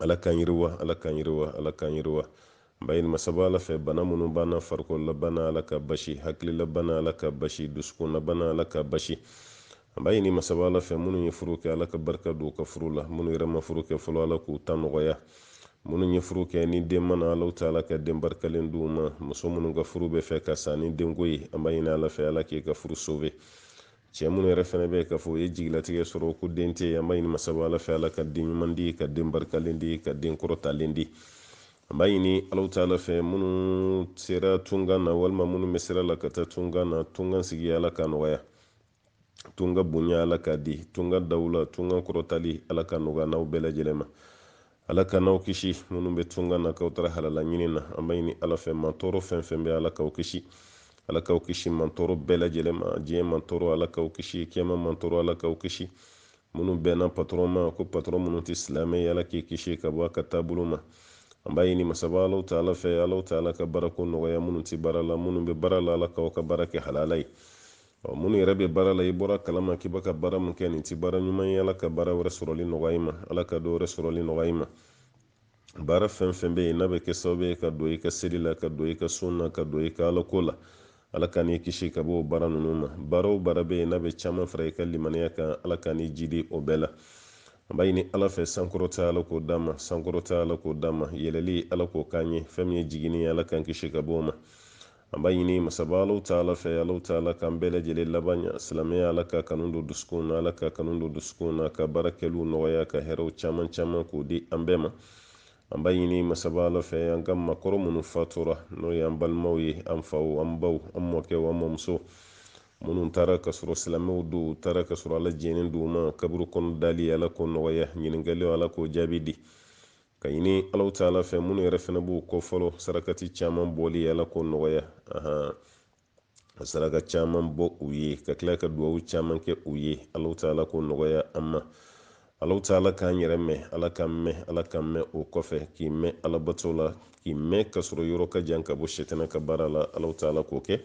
ala k'an yiriwa ala k'an yiriwa ala k'an yiriwa an b'a ɲini masaba ala fɛ bana minnu b'an na farikololabana ala ka basi hakililabana ala ka basi dusukunnabana ala ka basi an b'a ɲini masaba ala fɛ minnu ye furu kɛ ala ka barika don u ka furu la minnu yɛrɛ ma furu kɛ fɔlɔ ala k'u ta nɔgɔya minnu ye furu kɛ ni den ma na alahu taala ka den barikalen d'u ma muso minnu ka furu bɛ fɛ ka sa ni denko ye an b'a ɲini ala fɛ ala k'e ka furu sove cɛ minnu yɛrɛ fɛnɛ bɛ k'a fɔ u ye jigilatigɛ sɔrɔ ko den tɛ an b'a ɲini masaba ala fɛ ala ka den ɲuman di ka den barikalen di ka den kɔrɔtalen di an b'a ɲini alahu taala fɛ minnu sera tunkan na walima minnu bɛ sira la ka taa tunkan na tunkan sigi ala k'a nɔgɔya tunkan bonya ala k'a di tunkan dawula tunkan kɔrɔtali ala k'a nɔgɔya an n'aw bɛɛ lajɛlen ma ala k'an n'aw kisi minnu bɛ tunga na k'aw taara halala ɲini na an b'a ɲini ala fɛ mantɔɔrɔ fɛn fɛn bɛ ala k'aw kisi ala k'aw kisi mantɔɔrɔ bɛɛ lajɛlen ma diɲɛ mantɔɔrɔ ala k'aw kisi kiyama mantɔɔrɔ ala k'aw kisi minnu bɛnna patɔrɔn ma ko patɔrɔn minnu tɛ silamɛ ye ala k'i kisi ka bɔ a ka taabolo ma an b'a ɲini masaba alahu taala fɛ alahu taala ka baarako nɔgɔya minnu tɛ baara la minnu bɛ baara la ala k'aw ka baara kɛ halala ye Ɔ minnu yɛrɛ bɛ baara la i bɔr'a kalama k'i bɛ ka baara min kɛ nin tɛ baara ɲuman ye ala ka baara wɛrɛ sɔrɔli nɔgɔya i ma ala ka dɔ wɛrɛ sɔrɔli nɔgɔya i ma baara fɛn fɛn bɛ yen n'a bɛ kɛ sababu ye ka don i ka seli la ka don i ka sun na ka don i ka alako la ala k'an n'i kisi ka bɔ o baara ninnu ma baara o baara bɛ yen n'a bɛ caman fara i ka limaniya kan ala k'an n'i jidi o bɛɛ la an b'a ɲini ala fɛ sankɔrɔta ala k'o d'an ma sankɔrɔta ala k'o d'an ma yɛlɛli ala k'o k'an ye fɛn min ye jiginni ye ala k'an kisi ka bɔ o ma An b'a ɲini masaba Alahu taala fɛ Alahu taala k'an bɛɛ lajɛlen laban ɲa silamɛya Ala k'a kanu don dusukunw na Ala k'a kanu don dusukunw na ka baara kɛliw nɔgɔya ka hɛrɛw caman caman k'o di an bɛɛ ma an b'a ɲini masaba Ala fɛ an ka maakɔrɔ minnu fatura n'o ye an balimaw ye an faw an baw an mɔkɛw an mɔmuso minnu taara ka sɔrɔ silamɛw don u taara ka sɔrɔ Ala jɛnnen don u ma kaburu kɔnɔ dali Ala k'o nɔgɔya ɲininkaliw Ala k'o jaabi di k'a ɲini alahu taala fɛ minnu yɛrɛ fana b'u kɔ fɔlɔ sarakati caman bɔli ala k'o nɔgɔya an ka saraka caman bɔ u ye ka tila ka duwawu caman kɛ u ye alahu taala k'o nɔgɔya an ma alahu taala k'an yɛrɛ mɛn ala k'an mɛn ala k'an mɛn o kɔfɛ k'i mɛn alabato la k'i mɛn ka sɔrɔ i yɔrɔ ka jan ka bɔ sitanɛ ka baara la alahu taala k'o kɛ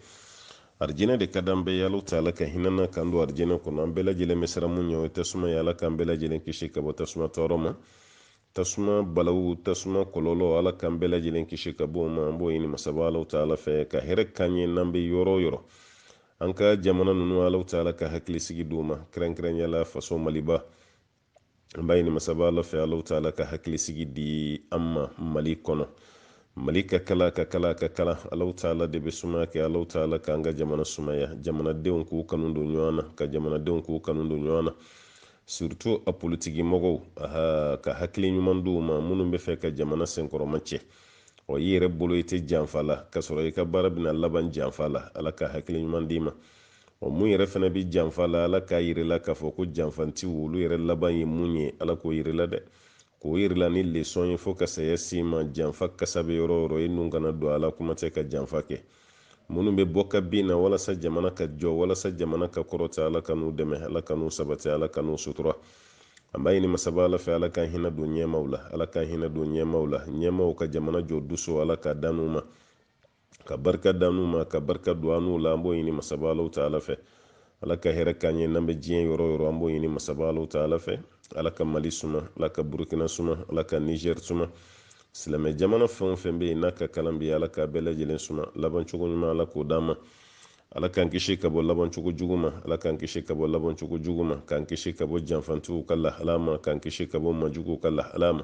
arijinɛ de ka d'an bɛɛ ye alahu taala ka hinɛ an na k'an don arijinɛ kɔnɔ an bɛɛ lajɛlen bɛ siran min ɲɛ o ye tasuma ye ala k'an bɛɛ lajɛlen kisi ka bɔ tasuma tɔɔrɔ ma tasuma balawu tasuma kɔlɔlɔ ala k'an bɛɛ lajɛlen kisi ka bɔ a ma an b'o ɲini masaba alahu taala fɛ ka hɛrɛ k'an ye n'an bɛ yɔrɔ o yɔrɔ an ka jamana ninnu alahu taala ka hakili sigi d'u ma kɛrɛnkɛrɛnya la faso maliba an b'a ɲini masaba ala fɛ alahu taala ka hakili sigi di an ma mali kɔnɔ mali ka kalan a ka kalan a ka kalan alahu taala de bɛ sumaya kɛ alahu taala k'an ka jamana sumaya jamanadenw k'u kanu don ɲɔgɔn na ka jamanadenw k'u kanu don ɲɔgɔn na surtout a politiki mɔgɔw ala ka hakili ɲuman d'u ma minnu b'a fɛ ka jamana senkɔrɔma cɛ ɔ i yɛrɛ bolo i tɛ janfa la ka sɔrɔ i ka baara bɛna laban janfa la ala ka hakili ɲuman d'i ma ɔ min yɛrɛ fana bɛ janfa la ala k'a yir'i la k'a fɔ ko janfantiw olu yɛrɛ laban ye mun ye ala k'o yir'i la dɛ k'o yir'i la ni lesɔn ye fo ka saya s'i ma janfa kasa bɛ yɔrɔ o yɔrɔ i nun kana don a la kuma tɛ ka janfa kɛ minnu bɛ bɔ ka bin na walasa jamana ka jɔ walasa jamana ka kɔrɔta ala k'an n'u dɛmɛ ala k'an n'u sabati ala k'an n'u sutura an b'a ɲini masaba ala fɛ ala ka hinɛ don ɲɛmaw la ala ka hinɛ don ɲɛmaw la ɲɛmaw ka jamana jɔ duso ala k'a d'an n'u ma ka barika d'an n'u ma ka barika don an n'u la an b'o ɲini masaba alahu taala fɛ ala ka hɛrɛ k'an ye n'an bɛ diɲɛ yɔrɔ o yɔrɔ an b'o ɲini masaba alahu taala fɛ ala ka mali suma ala ka burukina suma ala ka nizɛri suma silamɛ jamana fɛn o fɛn bɛ yen n'a ka kalan bɛ ala k'a bɛɛ lajɛlen suma labancogo ɲuman ala k'o d'an ma ala k'an kisi ka bɔ labancogo jugu ma ala k'an kisi ka bɔ labancogo jugu ma k'an kisi ka bɔ janfantigiw ka lahala ma k'an kisi ka bɔ majuguw ka lahala ma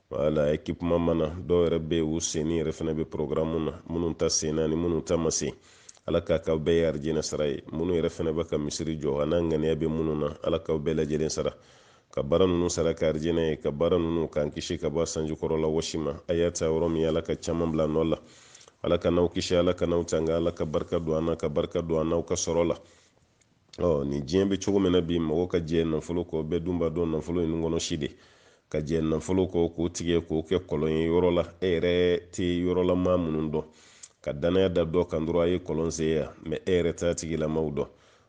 wala ekipuma mana dɔw yɛrɛ bɛ u senni yɛrɛ fana bɛ porogramu na minnu ta senna ni minnu ta ma sen ala k'a k'aw bɛɛ ye arijinɛ sara ye minnu yɛrɛ fana bɛ ka misiri jɔ an'a ŋaniya bɛ minnu na ala k'aw bɛɛ lajɛlen sara ka baara ninnu sara kɛ arijinɛ ye ka baara ninnu k'an kisi ka bɔ sanji kɔrɔla wɔsi ma a y'a ta yɔrɔ min ala ka caman bil'a nɔ la ala k'an n'aw kisi ala k'an n'aw tanga ala ka barika don an na ka barika don an n'aw ka sɔrɔ la ɔ nin diɲɛ bɛ cogo min na bi mɔgɔ ka jɛ nafolo kɔ bɛɛ dun b'a dɔn nafolo nunkɔnɔsi de ka jɛ nafolo kɔ k'o tigɛ k'o kɛ kɔlɔn ye yɔrɔ la e yɛrɛ tɛ yɔrɔlamaa minnu dɔn ka danaya da dɔ kan dɔrɔn a ye kɔlɔn sen yan mɛ e yɛrɛ t'a tigilamaw dɔn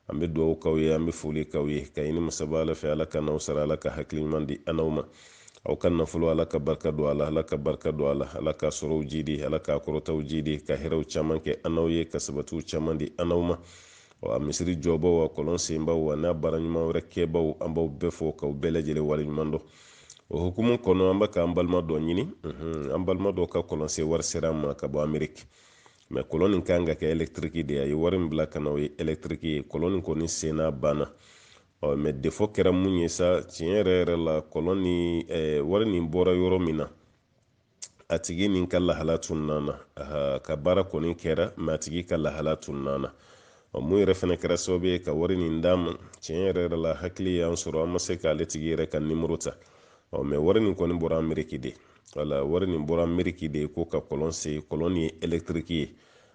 an bɛ dugawu k'aw ye an bɛ foli k'aw ye k'a ɲini masaba ala fɛ ala k'an n'aw sara ala ka hakili ɲuman di an n'aw ma aw ka nafolo ala ka barika don a la ala ka barika don a la ala ka sɔrɔw jidi ala ka kɔrɔtaw jidi ka hɛrɛw caman kɛ an n'aw ye ka sabatiw caman di an n'aw ma wa misiri jɔbaw wa kɔlɔn senbaw ani baara ɲuman wɛrɛ kɛbaw an b'aw bɛɛ fo k'aw bɛɛ lajɛlen wale ɲuman dɔn o hukumu kɔnɔ an bɛ k'an balima dɔ ɲini an balima dɔ ka kɔlɔnsen wari sera an ma ka bɔ ameriki mɛ kɔlɔn nin kan ka kɛ ɛlɛktiriki de a ye wari min bila ka na o ye ɛlɛktiriki ye kɔlɔn nin kɔni senna banna ɔ mɛ defɔ kɛra mun ye sa tiɲɛ yɛrɛ yɛrɛ la kɔlɔn ni wari nin bɔra yɔrɔ min na a tigi nin ka lahala tununa an na a ka baara kɔni kɛra mɛ a tigi ka lahala tununa an na ɔ min yɛrɛ fana kɛra sababu ye ka wari nin d'an ma tiɲɛ yɛrɛ yɛrɛ la hakili y'an sɔrɔ an ma se k'ale tigi yɛrɛ ka nimoro ta ɔ mɛ wari nin kɔni bɔra ameriki de wala wari nin bɔra ameriki de ko ka kɔlɔn sen kɔlɔn ye elektiriki ye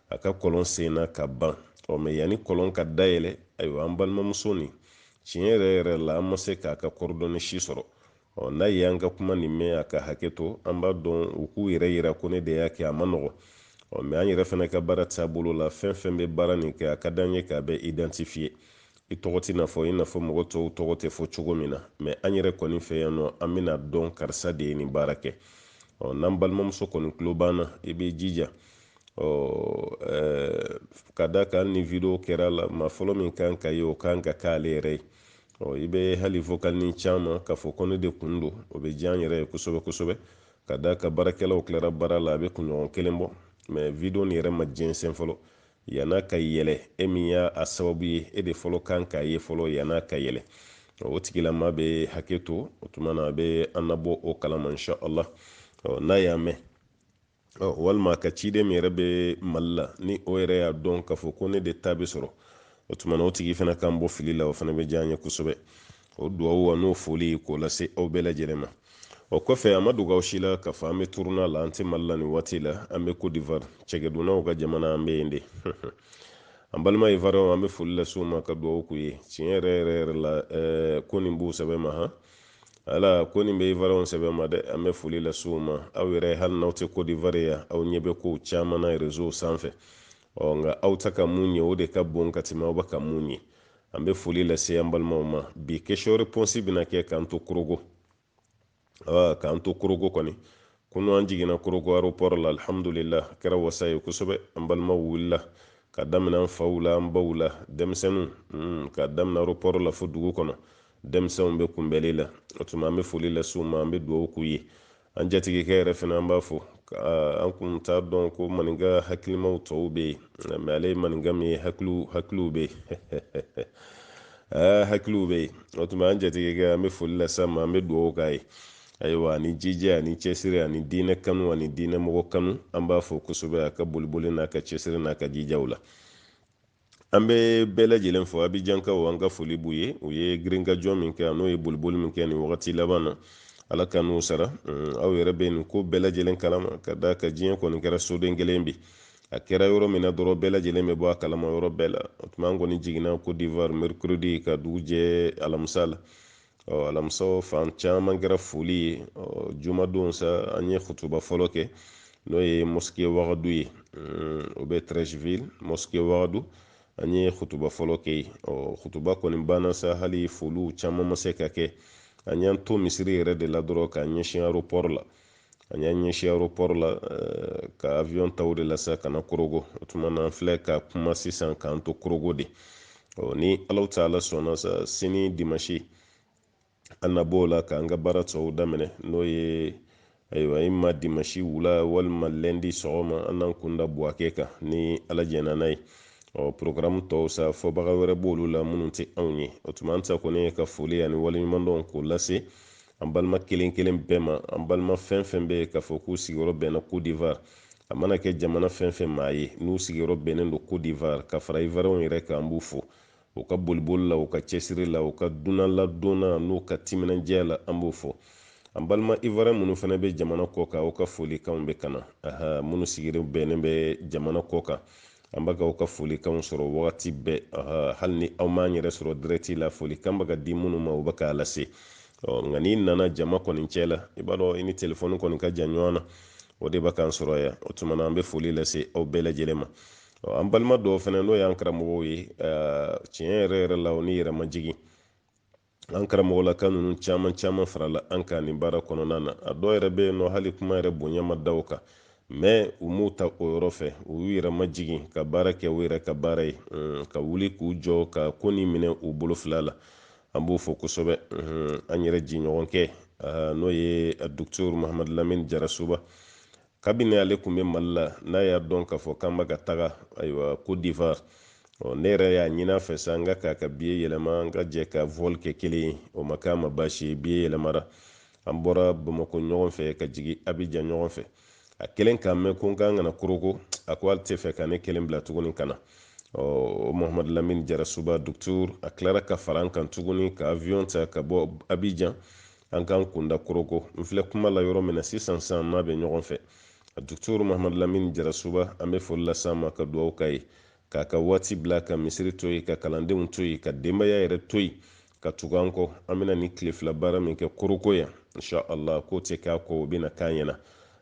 a ka kɔlɔn senna ka ban ɔ mɛ yanni kɔlɔn ka dayɛlɛ ayiwa an balimamuso nin tiɲɛ yɛrɛ yɛrɛ la an ma se k'a ka coordonnées si sɔrɔ ɔ n'a ye an ka kuma nin mɛn a ka hakɛ to an b'a dɔn u k'u yɛrɛ yira ko ne de y'a kɛ a man nɔgɔ ɔ mɛ an yɛrɛ fana ka baara taabolo la fɛn fɛn bɛ baara nin kɛ a ka d'an ye k'a bɛɛ identifiye i tɔgɔ tɛna fɔ i n'a fɔ mɔgɔ tɔw tɔgɔ tɛ fɔ cogo min na mɛ an yɛrɛ kɔni fɛ yan nɔ an bɛn'a dɔn karisa de ye nin baara kɛ ɔ n'an balimamuso kɔni tulo b'an na i b'i jija ɔ ka d'a kan ni video kɛra la maa fɔlɔ min kan k'a ye o kan ka k'ale yɛrɛ ye ɔ i bɛ hali vokalini c'an ma k'a fɔ ko ne de kun don o bɛ diya an yɛrɛ ye kosɛbɛ kosɛbɛ ka d'a kan baarakɛlaw tilara baara la a bɛ kunɲɔgɔn kelen bɔ mɛ video nin yɛrɛ ma jɛnsɛn fɔlɔ yan'a ka yɛlɛ e min ye a sababu ye e de fɔlɔ kan k'a ye fɔlɔ yan'a ka yɛlɛ o tigilama bɛ hakɛ to o tuma na a bɛ an nabɔ o kalama insha allah n'a y'a mɛn ɔ walima ka ciden min yɛrɛ bɛ mali la ni o yɛrɛ y'a dɔn k'a fɔ ko ne de ta bɛ sɔrɔ o tuma na o tigi fana k'an bɔ fili la o fana bɛ diya an ye kosɛbɛ o duwawu a n'o foli k'o lase aw bɛɛ lajɛlen ma o kɔfɛ a ma dogo aw si la k'a fɔ an bɛ turune la an tɛ mali la nin waati la an bɛ cote d'ivoire cɛkɛdunnaw ka jamana an bɛ yen de an balima ivoiriyɛnw an bɛ foli lase u ma ka duwawu k'u ye tiɲɛ yɛrɛ yɛrɛ yɛrɛ la ko nin b'u sɛbɛ ma han ala ko nin bɛ ivoiriyɛnw sɛbɛ ma dɛ an bɛ foli lase u ma aw yɛrɛ hali n'aw tɛ cote d'ivoire yan aw ɲɛ bɛ kow caman na rezow sanfɛ ɔ nka aw tɛ ka min ye o de ka bon ka tɛmɛ aw bɛ ka min ye an bɛ foli lase an balimaw ma bi question réponse bɛna kɛ k'an to korogo ɔ k'an to korogo kɔni kunu an jiginna korogo aéroport la alhamdulillah a kɛra wasa ye kosɛbɛ an balimaw wulila ka daminɛ an faw la an baw la denmisɛnninw hmm, ka daminɛ aéroport la fo dugu kɔnɔ denmisɛnw bɛ kunbɛli la o tuma an bɛ foli lase u ma an bɛ dugawu k'u ye an jatigikɛ yɛrɛ fana an b'a fɔ an kun t'a dɔn ko maninka hakilimaw tɔ bɛ yen mɛ ale ye maninka min ye hakiliw hakiliw bɛ yen hakiliw bɛ yen o tuma an jatigikɛ an bɛ foli lase a ma an bɛ dugawu k'a ye ayiwa ani jija ani cɛsiri ani diinɛ kanu ani diinɛ mɔgɔ kanu an b'a fo kosɛbɛ a ka boliboli n'a ka cɛsiri n'a ka jijaw la an bɛ bɛɛ lajɛlen fo abijankaw an ka foli b'u ye u ye girinkajɔ min kɛ an'u ye boliboli min kɛ nin wagati laban na ala k'an n'u sara mm, aw yɛrɛ bɛ nin ko bɛɛ lajɛlen kalama ka d'a kan diɲɛ kɔni kɛra soden kelen bi a kɛra yɔrɔ min na dɔrɔn bɛɛ lajɛlen bɛ bɔ a kalama yɔrɔ bɛɛ la o tuma an kɔni jiginna cote d'ivoire mercredi ka dugu jɛ alamisa la ɔ alamisa fan caman kɛra foli ye ɔ jumadon sa an ye kutuba fɔlɔ kɛ n'o ye mosquée wagadu ye o bɛ treichville mosquée wagadu an ye kutuba fɔlɔ kɛ yen ɔ kutuba kɔni banna sa hali foliw caman ma se ka kɛ an y'an to misiri yɛrɛ de la dɔrɔn k'an ɲɛsin aéroport la an y'an ɲɛsin aéroport la eh, ka avion ta o de la sa ka na korogo o tuma na an filɛ ka kuma sisan k'an to korogo de ɔ ni alahu taala sɔnna sa sini dimanche an na b'o la k'an ka baara tɔw daminɛ n'o ye ayiwa imma dimanche wula walima lɛndi sɔgɔma an n'an kun da buwake kan ni ala jɛnna n'a ye ɔ porogaramu tɔw sa fɔbaga wɛrɛ b'olu la minnu tɛ anw ye o tuma an ta kɔni ye ka foli ani waleɲumandɔn k'o lase an balima kelen kelen bɛɛ ma an balima fɛn fɛn bɛ yen k'a fɔ k'u sigiyɔrɔ bɛnna Côte d'Ivoire a mana kɛ jamana fɛn fɛn maa ye n'u sigiyɔrɔ bɛnnen don Côte d'Ivoire ka fara Ivoiriyɛnw yɛrɛ kan an b'u fo u ka boliboli la u ka cɛsiri la u ka dunanladon na n'u ka timinandiya la an b'u fo an balima Ivoiriyɛn minnu fana bɛ jamana kɔkan aw ka folikanw bɛ ka na aha minnu sigiyɔrɔ bɛnnen bɛ jamana kɔkan an bɛ ka aw ka folikanw sɔrɔ wagati bɛɛ hali ni aw m'an yɛrɛ sɔrɔ dirɛti la folikan bɛ ka di minnu ma u bɛ k'a lase nka n'i nana jama kɔni cɛ la i b'a dɔn i ni telefɔni kɔni ka jan ɲɔgɔn na o de bɛ k'an sɔrɔ yan o tuma na an bɛ foli lase aw bɛɛ lajɛlen ma an balima dɔw fana n'o y'an karamɔgɔw ye tiɲɛ yɛrɛ yɛrɛ la o ni yɛrɛmajigin an karamɔgɔlaka ninnu caman caman farala an kan nin baara kɔnɔna na a dɔw yɛrɛ bɛ yen nɔ hali kuma yɛrɛ bonya ma da u kan mais u m'u ta o yɔrɔ fɛ u y'u yɛrɛ majigin ka baara kɛ u yɛrɛ ka baara ye ka wuli k'u jɔ ka ko nin minɛ u bolo fila la an b'u fo kosɛbɛ an yɛrɛ jɛɲɔgɔnkɛ n'o ye docteur mahamadu lamini jarasuba kabini ale tun bɛ mali la n'a y'a dɔn k'a fɔ k'an bɛ ka taga ayiwa Côte d'Ivoire ɔ ne yɛrɛ y'a ɲin'a fɛ sa n ko k'a ka biye yɛlɛma an ka jɛ ka vol kɛ kelen ye o ma k'a ma baasi ye biye yɛlɛmara an bɔra bamakɔ ɲɔgɔn fɛ ka jigin abijan ɲɔgɔn fɛ a kɛlen k'a mɛn ko n ka kan ka na koroko a ko ale tɛ fɛ ka ne kelen bila tuguni ka na ɔ mohamadu lamini jarasuba docteur a tilara ka fara an kan tuguni ka avion ta ka bɔ abijan an k'an kun da koroko n filɛ kuma la yɔrɔ min na sisan sa an n'a bɛ ɲɔgɔn fɛ a dukutoro mahamadu lamini jarasuba an bɛ foli las'a ma ka dugawu k'a ye k'a ka waati bila ka misiri to yen ka kalandenw to yen ka denbaya yɛrɛ to yen ka tugu an kɔ an bɛna nin tile fila baara min kɛ koroko yan insha allah k'o tɛ k'a kɔ o bɛna k'a ɲɛ na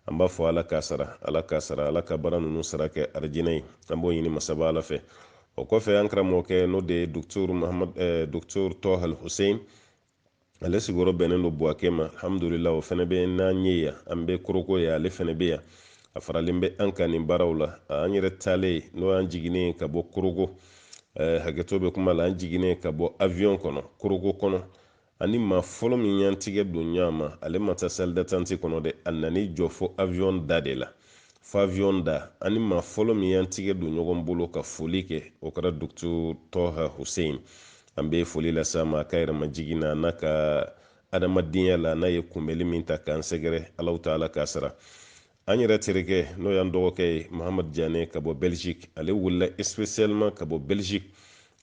an b'a fɔ ala k'a sara ala k'a sara ala ka baara ninnu sara kɛ arijinɛ ye an b'o ɲini masaba ala fɛ o kɔfɛ an karamɔgɔkɛ n'o de ye docteur mahamad eh, docteur tɔha hussein ale sigiyɔrɔ bɛnnen don buwake ma alhamdulila o fana bɛ n'an ye yan an bɛ koroko ye ale fana bɛ yan a faralen bɛ an kan nin baaraw la an yɛrɛ taalen n'o y'an jiginnen ka bɔ koroko eh, hakɛto bɛ kuma la an jiginnen ka bɔ avion kɔnɔ koroko kɔnɔ an ni maa fɔlɔ min y'an tigɛ don ɲɔgɔn ma ale ma taa salle d'attente kɔnɔ dɛ a nan'i jɔ fo avion da de la fo avion da an ni maa fɔlɔ min y'an tigɛ don ɲɔgɔn bolo ka foli kɛ o kɛra docteur tɔha hussein an bɛ foli las'a ma a ka yɛrɛmajigin na n'a ka adamadenya la n'a ye kunbɛli min ta k'an sɛgɛrɛ allahu taala k'a sara an yɛrɛ terikɛ n'o y'an dɔgɔkɛ ye mahamadu jane ka bɔ belgique ale wulila spécialement ka bɔ belgique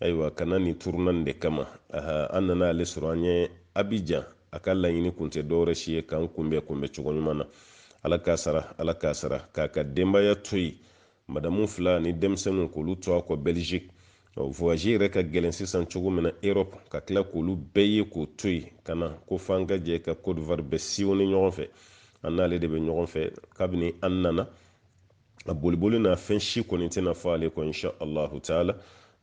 ayiwa ka na nin turuna nin de kama an nana ale sɔrɔ an ɲɛ abijan a ka laɲini kun tɛ dɔwɛrɛ si ye k'an kunbɛn kunbɛn cogo ɲuman na ala k'a sara ala k'a sara k'a ka denbaya to yen madamu fila ni denmisɛnninw k'olu to a kɔ belgique voyage yɛrɛ ka gɛlɛn sisan cogo min na europe ka tila k'olu bɛɛ ye k'o to yen ka na ko f'an ka jɛ ka cote d'ivoire bɛɛ sillonner ɲɔgɔn fɛ an n'ale de bɛ ɲɔgɔn fɛ kabini an nana a boliboli n'a fɛn si kɔni tɛna fɔ ale kɔ insha allahu taala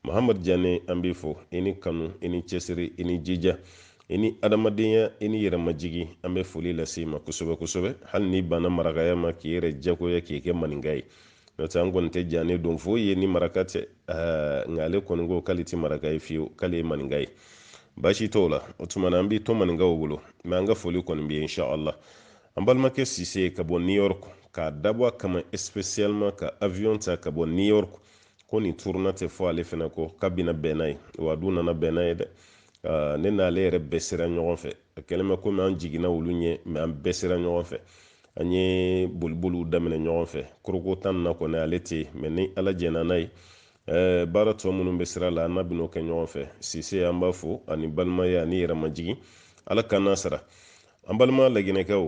mahamadu jane an b'i fo i ni kanu i ni cɛsiri i ni jija i ni adamadenya i ni yɛrɛmajigi an bɛ foli lase i ma kosɛbɛ kosɛbɛ hali n'i banna marakaya ma k'i yɛrɛ jagoya k'i kɛ maninka ye n'o tɛ an kɔni tɛ jane dɔn foyi ye ni maraka tɛ nka ale kɔni ko k'ale tɛ maraka ye fiyewu k'ale ye maninka ye baasi t'o la o tuma na an b'i to maninkaw bolo mɛ an ka foli kɔni b'i ye inshallah an balimakɛ sise ka bɔ new york k'a dabɔ a kama spécialement ka avion ta ka bɔ new york ko nin turuna tɛ fɔ ale fana kɔ k'a bɛna bɛn n'a ye wa a dun nana bɛn n'a ye dɛ ne n'ale yɛrɛ bɛɛ sera ɲɔgɔn fɛ a kɛlen bɛ komi an jiginna olu ɲɛ mɛ an bɛɛ sera ɲɔgɔn fɛ an ye boliboliw daminɛ ɲɔgɔn fɛ korogo ta in na kɔni ale tɛ yen mɛ ni ala jɛnna n'a ye baara tɔ minnu bɛ sira la an n'a bɛn'o kɛ ɲɔgɔn fɛ sise an b'a fo a ni balimaya a ni yɛrɛmajigin ala ka n'a sara an balima laginɛkaw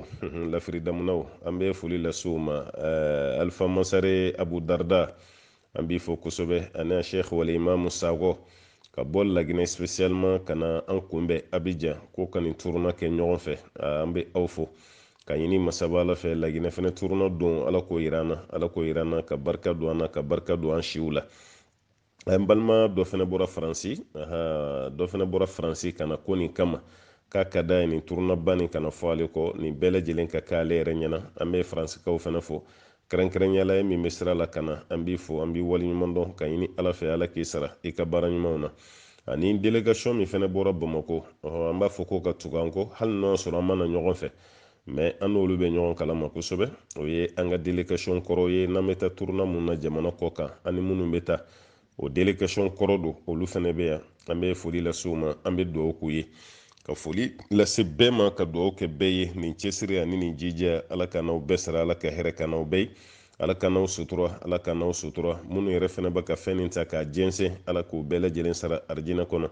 lafiri damunnaw an bɛ foli las'u ma eh, alifa mansare abu darda an b'i fo kosɛbɛ ani a sheikh wal imamu sakɔ ka bɔ laginɛ spécialement ka na an kunbɛn abijan ko ka nin turuna kɛ ɲɔgɔn fɛ ah, an bɛ aw fo ka ɲini masaba ala fɛ laginɛ fɛnɛ turuna don ala k'o yira an na ala k'o yira an na ka barika don an na ka barika don an siw la an balima dɔ fana bɔra faransi dɔ fana bɔra faransi ka na ko nin kama k'a ka da ye nin turunaba nin kana fɔ ale kɔ nin bɛɛ lajɛlen ka kɛ ale yɛrɛ ɲɛna an bɛ faransikaw fana fo kɛrɛnkɛrɛnya la e min bɛ sira la ka na an b'i fo an b'i waleɲuman dɔn ka ɲini ala fɛ ala k'i sara i ka baara ɲumanw na ani delegation min fana bɔra bamako an b'a fɔ ko ka tugu an kɔ hali n'o sɔrɔ an ma na ɲɔgɔn fɛ mɛ an n'olu bɛ ɲɔgɔn kalama kosɛbɛ o ye an ka delegation kɔrɔ ye n'an bɛ taa turuna min na jamana kɔkan ani minnu bɛ taa o delegation kɔrɔ don olu fana bɛ yan an bɛ foli lase u ma an bɛ dugawu k'u ye ka foli lase bɛɛ ma ka dugawu kɛ bɛɛ ye nin cɛsiri ani nin jija ala ka n'aw bɛɛ sara ala ka hɛrɛ kɛ aw bɛɛ ye ala ka n'aw sutura ala ka n'aw sutura minnu yɛrɛ fana bɛ ka fɛn nin ta k'a jɛnsɛn ala k'u bɛɛ lajɛlen sara arijinɛ kɔnɔ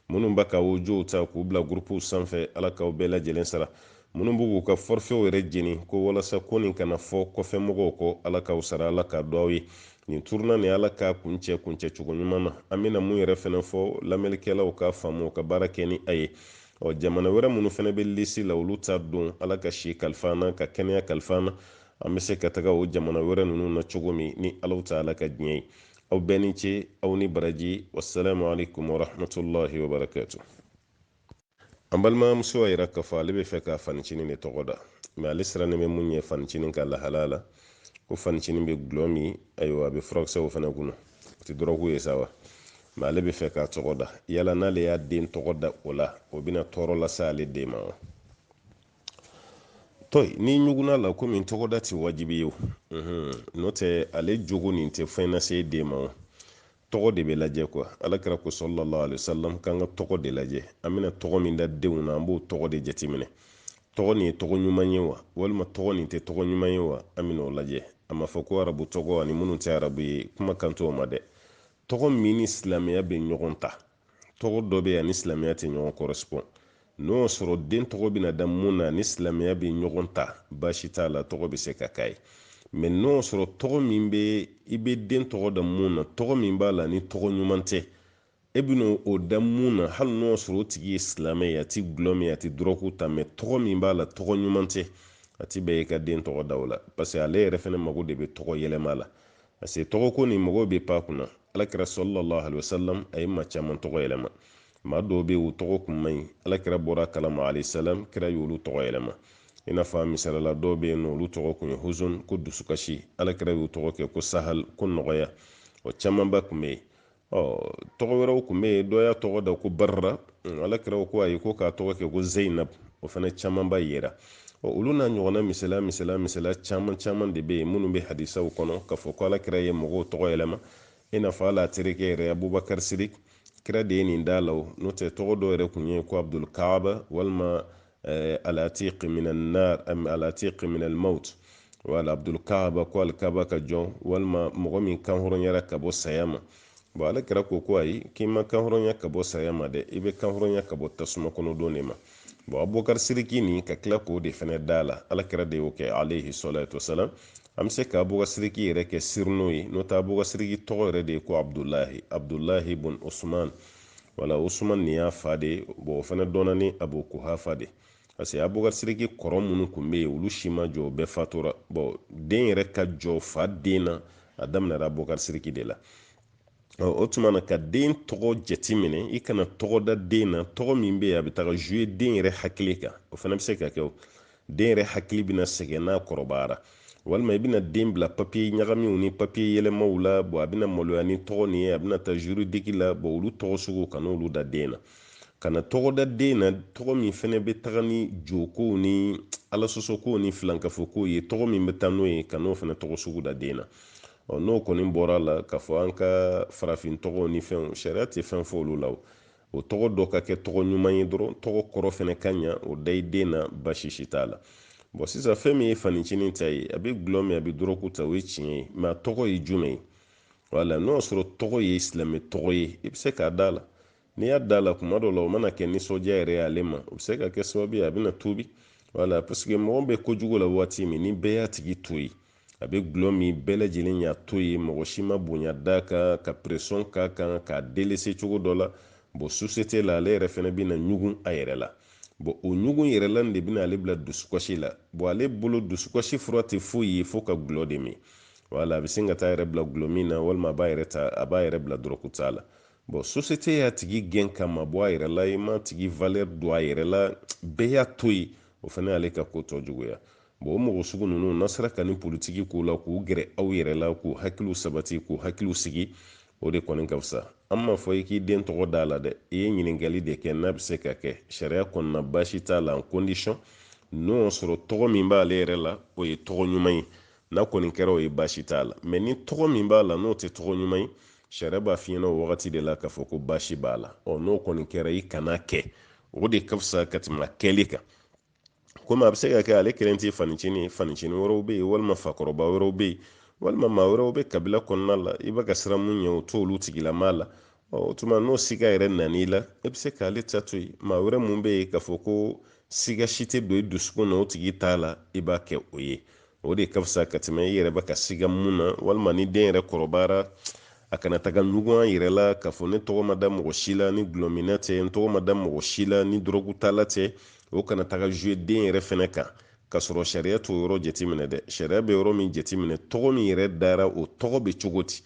minnu bɛ ka odiyow ta k'u bila gurupuw sanfɛ ala k'aw bɛɛ lajɛlen sara minnu b'u k'u ka fɔrifɛw yɛrɛ jeni ko walasa ko nin kana fɔ kɔfɛ mɔgɔw kɔ ala k'aw sara ala k'a dɔ aw ye nin turuna ni ala k'a kuncɛ kuncɛ cogo ɲuman na an bɛna mun yɛrɛ fana fɔ lamɛnnikɛlaw k'a faamu u ka baara kɛ ni a ye ɔ jamana wɛrɛ minnu fana bɛ lisi la olu ta don ala ka si kalifa an na ka kɛnɛya kalifa an na an bɛ se ka taga o jamana wɛrɛ ninnu na cogo min ni alaw ta ala ka diɲɛ ye aw bɛɛ ni ce aw ni baraji wassalamu alaikum warahmatullahi wabarakatu an balimamuso y'a yira k'a fɔ ale b'a fɛ k'a fancinin de tɔgɔ da mɛ ale sirannen bɛ mun ɲɛ fancinin ka lahala la ko fancinin bɛ gulɔ min ayiwa a bɛ furakisɛw fana kunun o tɛ dɔrɔgu ye sa wa mɛ ale b'a fɛ k'a tɔgɔ da yala n'ale y'a den tɔgɔ da o la o bɛna tɔɔrɔ lase ale den ma wa to ni ɲuguna la komi tɔgɔda tɛ wajibi ye n'o tɛ ale jogo nin tɛ fɛn lase den ma o tɔgɔ de bɛ lajɛ kuwa ala kira ko salalahu alayhi wasalam k'an ka tɔgɔ de lajɛ an bɛna tɔgɔ min da denw na an b'o tɔgɔ de jateminɛ tɔgɔ nin ye tɔgɔ ɲuman ye wa walima tɔgɔ nin tɛ tɔgɔ ɲuman ye wa an bɛna o lajɛ a ma fɔ ko arabu tɔgɔ ani minnu tɛ arabu ye kuma kan t'o ma dɛ tɔgɔ min ni silamɛya bɛ ɲɔgɔn ta tɔgɔ dɔ bɛ yen a ni silamɛya tɛ ɲɔgɔn correspond n'o y'a sɔrɔ den tɔgɔ bɛna da mun na ni silamɛya bɛ ɲɔgɔn ta baasi t'a la tɔgɔ bɛ se ka k'a ye mɛ n'o y'a sɔrɔ tɔgɔ min bɛ i bɛ den tɔgɔ da mun na tɔgɔ min b'a la ni tɔgɔ ɲuman tɛ e bɛna o da mun na hali n'o y'a sɔrɔ o tigi ye silamɛ ye a ti gulɔ min a ti dɔrɔgu ta mɛ tɔgɔ min b'a la tɔgɔ ɲuman tɛ a ti bɛn i ka den tɔgɔ da o la parce que ale yɛrɛ fana mago de bɛ tɔgɔ yɛlɛma la parce que tɔgɔ ko nin mɔgɔw bɛ pan a kunna ala kira salalahu alayhi wasalam a ye maa caman tɔgɔ yɛlɛma maa dɔw bɛ yen u tɔgɔ kun man ɲi ala kira bɔra a kalama alayhi salam kira y'olu tɔgɔ yɛlɛma i n'a fɔ misalala dɔw bɛ yen n'olu tɔgɔ kun ye huzun ko dusukasi ala kira y'u tɔgɔ kɛ ko sahal ko nɔgɔya o camanba kun bɛ yen ɔ tɔgɔ wɛrɛw kun bɛ yen dɔ y'a tɔgɔ da ko barra ala kira ko ayi ko k'a tɔgɔ kɛ ko zeyinab o fana camanba yera ɔ olu n'a ɲɔgɔnna misala misala misala caman caman de bɛ yen minnu bɛ hadisaw kɔnɔ k'a fɔ ko ala kira ye mɔgɔw tɔgɔ yɛlɛma i n'a fɔ ale terikɛ yɛrɛ abubakar sirik kira de ye nin d'a la o n'o tɛ tɔgɔ dɔ yɛrɛ kun ye ko abdul kaaba walima eh, alatiq min annar am alatiq min almaut wala abdul kaaba ko alkaba ka jɔn walima mɔgɔ min kanhɔrɔnyara ka bɔ saya ma bɔn ala kira ko ko ayi k'i ma kanhɔrɔnya ka bɔ saya ma dɛ i bɛ kanhɔrɔnya ka bɔ tasuma kɔnɔ don de ma bɔn abubakar siriki nin ka tila k'o de fɛnɛ d'a la ala kira de y'o kɛ alayhi salatu wasalam an bɛ se ka abubakar siriki yɛrɛ kɛ surnom ye n'o tɛ abubakar siriki tɔgɔ yɛrɛ de ye ko abdulahi abdulahi bun usman wala usman nin y'a fa de bɔn o fana dɔnna ni abu kuhafa de parce que abubakar siriki kɔrɔ minnu tun bɛ yen olu si ma jɔ bɛɛ fatura bɔn den yɛrɛ ka jɔ fa den na a daminɛra abubakar siriki de la o tuma na ka den tɔgɔ jateminɛ i kana tɔgɔ da den na tɔgɔ min bɛ yen a bɛ taga zuye den yɛrɛ hakili kan o fana bɛ se ka kɛ den yɛrɛ hakili bɛna sɛgɛn n'a kɔrɔbayara walima i bɛna den bila papiye ɲagaminw ni papiye yɛlɛmaw la bɔn a bɛna maloya ni tɔgɔ nin ye a bɛna taa juridiki la bɔn olu tɔgɔ sugu kan'olu da den na kana tɔgɔ da den na tɔgɔ min fɛnɛ bɛ taga ni jokow ni alasɔsɔkow ni filankafokow ye tɔgɔ min bɛ taa n'o ye kan'o fɛnɛ tɔgɔ sugu da den na ɔ n'o kɔni bɔra la k'a fɔ an ka farafin tɔgɔw ni fɛnw sariya tɛ fɛn fɔ olu la O tɔgɔ dɔ ka kɛ tɔgɔ ɲuman ye dɔrɔn tɔgɔ kɔrɔ fana ka ɲa o da i den na baasi si t'a la bɔn sisan fɛn min ye fanicinin ta ye a bɛ gulɔ min a bɛ dɔrɔgu ta o ye tiɲɛ ye mɛ a tɔgɔ ye jumɛn ye wala n'o y'a sɔrɔ tɔgɔ ye silamɛ tɔgɔ ye i bɛ se k'a d'a la n'i y'a d'a la tuma dɔ la o mana kɛ nisɔndiya yɛrɛ ye ale ma o bɛ se ka kɛ sababu ye a bɛna tuubi wala paseke mɔgɔ bɛ kojugu la waati min ni bɛɛ y'a tigi to yen a bɛ gulɔ min bɛɛ lajɛlen y'a to yen mɔgɔ si ma bonya d'a kan ka pression k'a kan k'a delese cogo dɔ la bon susete la ale yɛrɛ fana bɛna ɲugun a yɛrɛ la bon o ɲugun yɛrɛ la de bɛna ale bila dusukasi la bon ale bolo dusukasi fura tɛ foyi ye fo ka gulɔ de min wala a bɛ sin ka taa a yɛrɛ bila gulɔmin na walima a b'a yɛrɛ ta a b'a yɛrɛ bila dɔrɔguta la bon susete y'a tigi gɛn k'a mabɔ a yɛrɛ la i m'a tigi valeur dɔn a yɛrɛ la bɛɛ y'a to yen o fana y'ale ka ko tɔ juguya bon o mɔgɔ sugu ninnu n'a sera ka nin politiki k'u la k'u gɛrɛ aw yɛrɛ la k'u hakiliw sabati k'u hakiliw sigi o de kɔni ka fisa an m'a fɔ i k'i den tɔgɔ d'a la dɛ i ye ɲininkali de kɛ n'a bɛ se ka kɛ sariya kɔnɔna baasi t'a la en condition n'o y'a sɔrɔ tɔgɔ min b'ale yɛrɛ la o ye tɔgɔ ɲuman ye n'a kɔni kɛra o ye baasi t'a la mɛ ni tɔgɔ min b'a la n'o tɛ tɔgɔ ɲuman ye sariya b'a f'i ɲɛna o wagati de la k'a fɔ ko baasi b'a la ɔ n'o kɔni kɛra i kan'a kɛ o de ka fisa ka tɛmɛ kɛli kan komi a bɛ se ka kɛ ale kelen tɛ fanicini ye fanicini wɛrɛw bɛ yen walima fakɔrɔba wɛrɛw bɛ yen walima maa wɛrɛw bɛ kabila kɔnɔna la i bɛ ka siran mun ɲɛ o t'olu tigilamaa la o tuma n'o siga yɛrɛ nan'i la e bɛ se k'ale ta to yen maa wɛrɛ mun bɛ yen k'a fɔ ko siga si tɛ don i dusukun na o tigi ta la i b'a kɛ o ye o de ka fisa ka tɛmɛ i yɛrɛ bɛ ka siga mun na walima ni den yɛrɛ kɔrɔbayara a kana taga ɲugun an yɛrɛ la k'a fɔ ne tɔgɔ ma da mɔgɔ si la ni gulɔminna tɛ n tɔgɔ ma da mɔgɔ si la ni dɔrɔgutala tɛ o kana taga zuwe den yɛrɛ fɛnɛ kan ka sɔrɔ sariya t'o yɔrɔ jateminɛ dɛ sariya bɛ yɔrɔ min jateminɛ tɔgɔ min yɛrɛ dara o tɔgɔ bɛ cogo di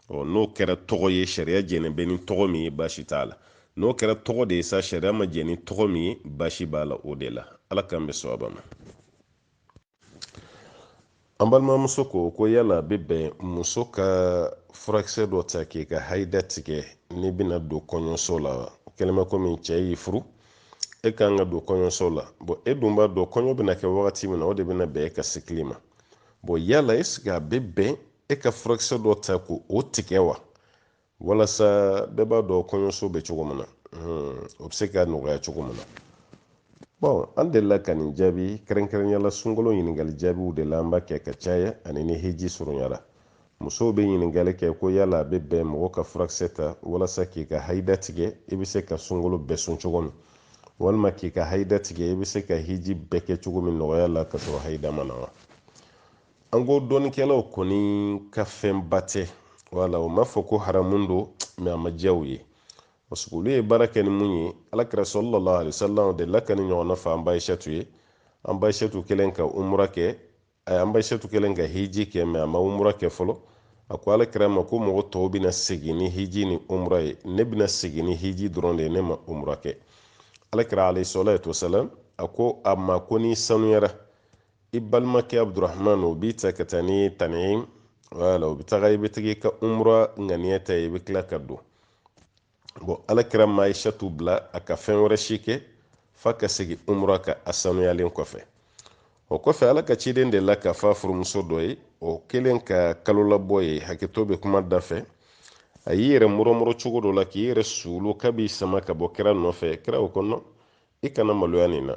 ɔ n'o kɛra tɔgɔ ye sariya jɛnen bɛ ni tɔgɔ min ye baasi t'a la n'o kɛra tɔgɔ de ye sa sariya ma jɛ ni tɔgɔ min ye baasi b'a la o de la ala k'an bɛn sawaba ma an balimamuso ko ko yala a bɛ bɛn muso ka furakisɛ dɔ ta k'i ka hayida tigɛ n'i bɛna don kɔɲɔso la wa kɛlɛmɛ komi cɛ y'i furu e ka kan ka don kɔɲɔso la bɔn e dun b'a dɔn kɔɲɔ bɛna kɛ wagati min na o de bɛna bɛn e ka sikili ma bɔn yala eseke a bɛ bɛn e ka furakisɛ dɔ ta k'o tigɛ wa walasa bɛɛ b'a dɔn kɔɲɔso bɛ cogo min na o bɛ se ka nɔgɔya cogo min na bɔn an delila ka nin jaabi kɛrɛnkɛrɛnnenya la sunkalo ɲininkali jaabiw de la an b'a kɛ ka caya ani ni heji surunyara musow bɛ ɲininkali kɛ ko yala a bɛ bɛn mɔgɔ ka furakisɛ ta walasa k'i ka hayida tigɛ i bɛ se ka sunkalo bɛɛ sun cogo min walima k'i ka hayida tigɛ i bɛ se ka heji bɛɛ kɛ cogo min nɔgɔya la ka sɔrɔ hayida ma na wa an ko dɔnnikɛlaw kɔni ka fɛnba tɛ wala u m'a fɔ ko haramu don mɛ a ma diya u ye parce que olu ye baara kɛ ni mun ye alakira salalahu alayhi wasalam delila ka nin ɲɔgɔnna fɔ an ba ayisatu ye an ba ayisatu kɛlen ka umura kɛ a an ba ayisatu kɛlen ka hiji kɛ mɛ a ma umura kɛ fɔlɔ a ko alakira ma ko mɔgɔ tɔw bɛna segin ni hiji ni umura ye ne bɛna segin ni hiji dɔrɔn de ye ne ma umura kɛ alakira alayhi salatu wasalam a ko a ma ko n'i sanuyara i balimakɛ abudurahman o b'i ta ka taa ni tani ye wala o bɛ taga i bɛ jigi ka umura ŋaniya ta i bɛ tila ka don bɔn alakira ma ayisatu bila a ka fɛn wɛrɛ si kɛ f'a ka segin umura kan a sanuyalen kɔfɛ o kɔfɛ ala ka ciden delila k'a fɔ a furumuso dɔ ye o kɛlen ka kalolabɔ ye hakɛto bɛ kuma da fɛ a y'i yɛrɛ murɔmurɔ cogo dɔ la k'i yɛrɛ suulu k'a b'i sama ka bɔ kira nɔfɛ kira ko nɔn i kana maloya nin na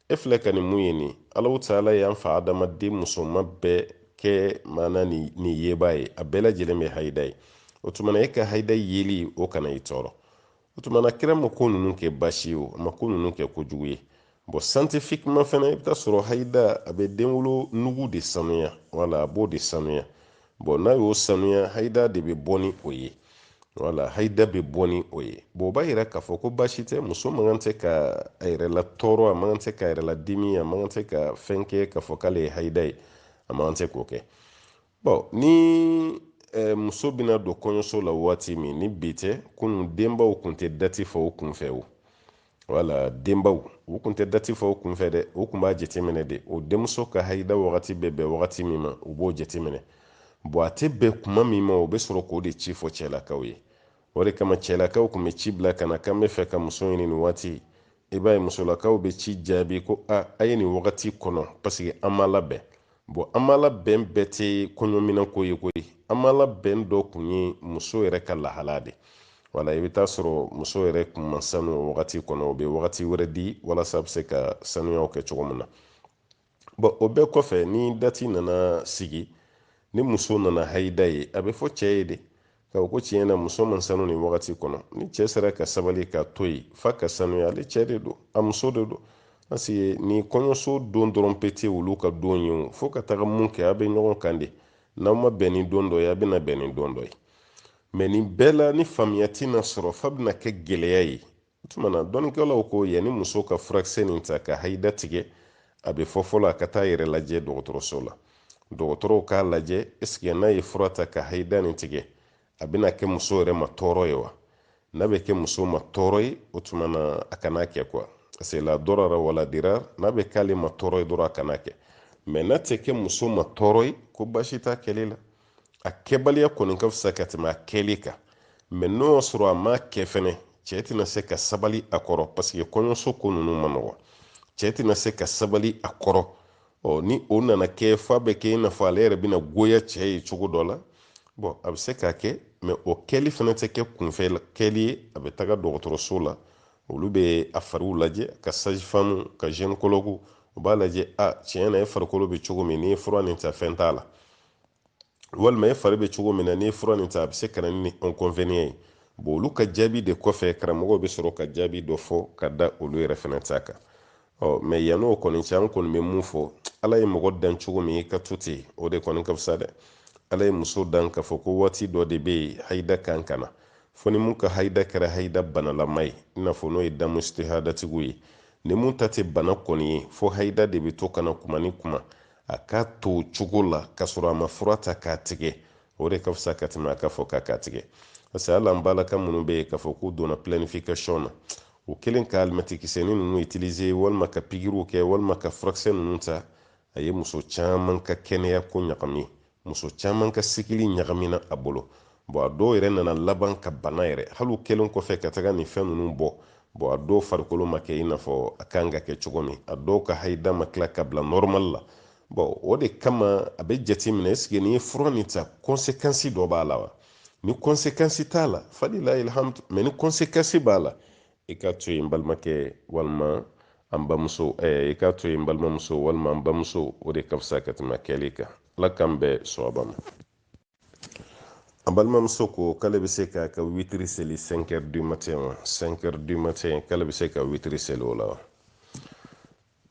e filɛ ka nin min ye nin alahu taala y'an fa adama den musoman bɛɛ kɛ maana nin yebaa ye a bɛɛ lajɛlen bɛ hayida ye o tuma na e ka hayida yeli o kana i tɔɔrɔ o tuma na kira ma ko ninnu kɛ baasi ye o a ma ko ninnu kɛ kojugu ye bɔn siyantifikiman fana i bɛ taa sɔrɔ hayida a bɛ denwolonugu de sanuya wala a b'o de sanuya bɔn n'a y'o sanuya hayida de bɛ bɔ ni o ye wala hayida bɛ bɔ ni o ye bɔn o b'a yira k'a fɔ ko baasi tɛ muso man kan tɛ ka a yɛrɛ latɔɔrɔ a man kan tɛ ka a yɛrɛ ladimi a man kan tɛ ka fɛn kɛ k'a fɔ k'ale ye hayida ye a man kan tɛ k'o kɛ bɔn ni eh, muso bɛna don kɔɲɔso la waati min ni bi tɛ kunun denbaw kun tɛ dati fɔ o kunfɛ o wala denbaw u kun tɛ dati fɔ u kunfɛ dɛ u kun b'a jateminɛ de o denmuso ka hayida wagati bɛ bɛn wagati min ma u b'o jateminɛ bɔn a tɛ bɛn kuma min ma o bɛ sɔrɔ k'o de ci fɔ cɛlakaw ye o de kama cɛlakaw kun bɛ ci bila ka na k'an b'a fɛ ka muso ɲini nin waati i b'a ye musolakaw bɛ ci jaabi ko a a ye nin wagati kɔnɔ paseke an ma labɛn bon an ma labɛn bɛɛ tɛ kɔɲɔminɛnko ye koyi an ma labɛn dɔ kun ye muso yɛrɛ ka lahala de wala i bɛ taa sɔrɔ muso yɛrɛ kun ma sanu o wagati kɔnɔ o bɛ wagati wɛrɛ di walasa a bɛ se ka sanuyaw kɛ cogo min na bɔn o bɛɛ kɔfɛ ni dati nana sigi ni muso nana hayida ye a bɛ fɔ cɛ ye de ko ko tiɲɛ na muso ma sanu nin wagati kɔnɔ ni cɛ sera ka sabali k'a to yen f'a ka sanuya ale cɛ de don a muso de don parce que ni kɔɲɔso don dɔrɔn pe tɛ olu ka don ye o fo ka taga mun kɛ a bɛ ɲɔgɔn kan de n'aw ma bɛn ni don dɔ ye a bɛna bɛn ni don dɔ ye mɛ nin bɛɛ la ni faamuya tɛna sɔrɔ f'a bɛna kɛ gɛlɛya ye o tuma na dɔnnikɛlaw ko yanni muso ka furakisɛ nin ta ka hayida tigɛ a bɛ fɔ fɔlɔ a ka taa a yɛrɛ lajɛ dɔgɔtɔrɔso la dɔgɔtɔrɔw k'a lajɛ ɛseke n'a ye fura ta ka hayida nin tigɛ a bɛna kɛ muso yɛrɛ ma tɔɔrɔ ye wa n'a bɛ kɛ muso ma tɔɔrɔ ye o tuma na a kana kɛ kuwa se la darara wa la dirar n'a bɛ k'ale ma tɔɔrɔ ye dɔrɔn a kana kɛ mɛ n'a tɛ kɛ muso ma tɔɔrɔ ye ko baasi t'a kɛli la a kɛbaliya kɔni ka fisa ka tɛmɛ a kɛli kan mɛ n'o y'a sɔrɔ a ma kɛ fɛnɛ cɛ tɛna se ka sabali a kɔrɔ paseke kɔɲɔso ko ninnu ma nɔgɔ cɛ tɛna se ka sabali a kɔrɔ ɔ ni o nana kɛ f'a bɛ kɛ i n'a fɔ ale yɛrɛ bɛna goya cɛ ye cogo dɔ la bɔn a bɛ se k'a kɛ mɛ o kɛli fana tɛ kɛ kunfɛ kɛli ye a bɛ taga dɔgɔtɔrɔso la olu bɛ a fari lajɛ ka sajifamu ka zɛnikologu u b'a lajɛ a tiɲɛ na e farikolo bɛ cogo min n'i ye fura nin ta fɛn t'a la walima e fari bɛ cogo min na n'i ye fura nin ta a bɛ se ka na ni inconvénient ye bon olu ka jaabi de kɔfɛ karamɔgɔw bɛ sɔrɔ ka jaabi dɔ fɔ ka da olu yɛrɛ fana ta kan ɔ mɛ yann'o kɔni cɛ an kɔni bɛ mun fɔ ala ye mɔgɔ dan cogo min k'a to ten o de kɔni ka fisa dɛ ala ye muso dan k'a fɔ ko waati dɔ de bɛ yen hayida kan ka na fo ni mun ka hayida kɛra hayida banalama ye i n'a fɔ n'o ye damu istihadatigiw ye ni mun ta tɛ bana kɔni ye fo hayida de bɛ to ka na kuma ni kuma a k'a to cogo la k'a sɔrɔ a ma fura ta k'a tigɛ o de ka fisa ka tɛmɛ a k'a fɔ k'a k'a tigɛ parce que hali an balaka minnu bɛ yen k'a fɔ k'u donna planification na u kɛlen ka alimɛtikisɛni ninnu utiliser walima ka pikiriw kɛ walima ka furakisɛ ninnu ta a ye muso caman ka kɛnɛya ko ɲagami muso caman ka sikili ɲagamina a bolo bɔn a dɔw yɛrɛ nana laban ka bana yɛrɛ hali u kɛlen kɔfɛ ka taga nin fɛn ninnu bɔ bɔn a dɔw farikolo ma kɛ i n'a fɔ a kan ka kɛ cogo min a dɔw ka hayida ma tila ka bila nɔrɔmali la bɔn o de kama a bɛ jate minɛ esike n'i ye fura nin ta kɔnsekansi dɔ b'a la wa ni kɔnsekansi t'a la falilayi alhamdu mɛ ni kɔnsekansi b'a la i k'a to yen balimakɛ walima an bamuso i k'a to yen balimamuso walima an bamuso o de ka fisa ka tɛmɛ a kɛli kan ala k'an bɛɛ sɔrɔba ma an balimamuso ko k'ale bɛ se k'a ka witiri seli 5 heures du matin wa 5 heures du matin k'ale bɛ se ka witiri seli o la wa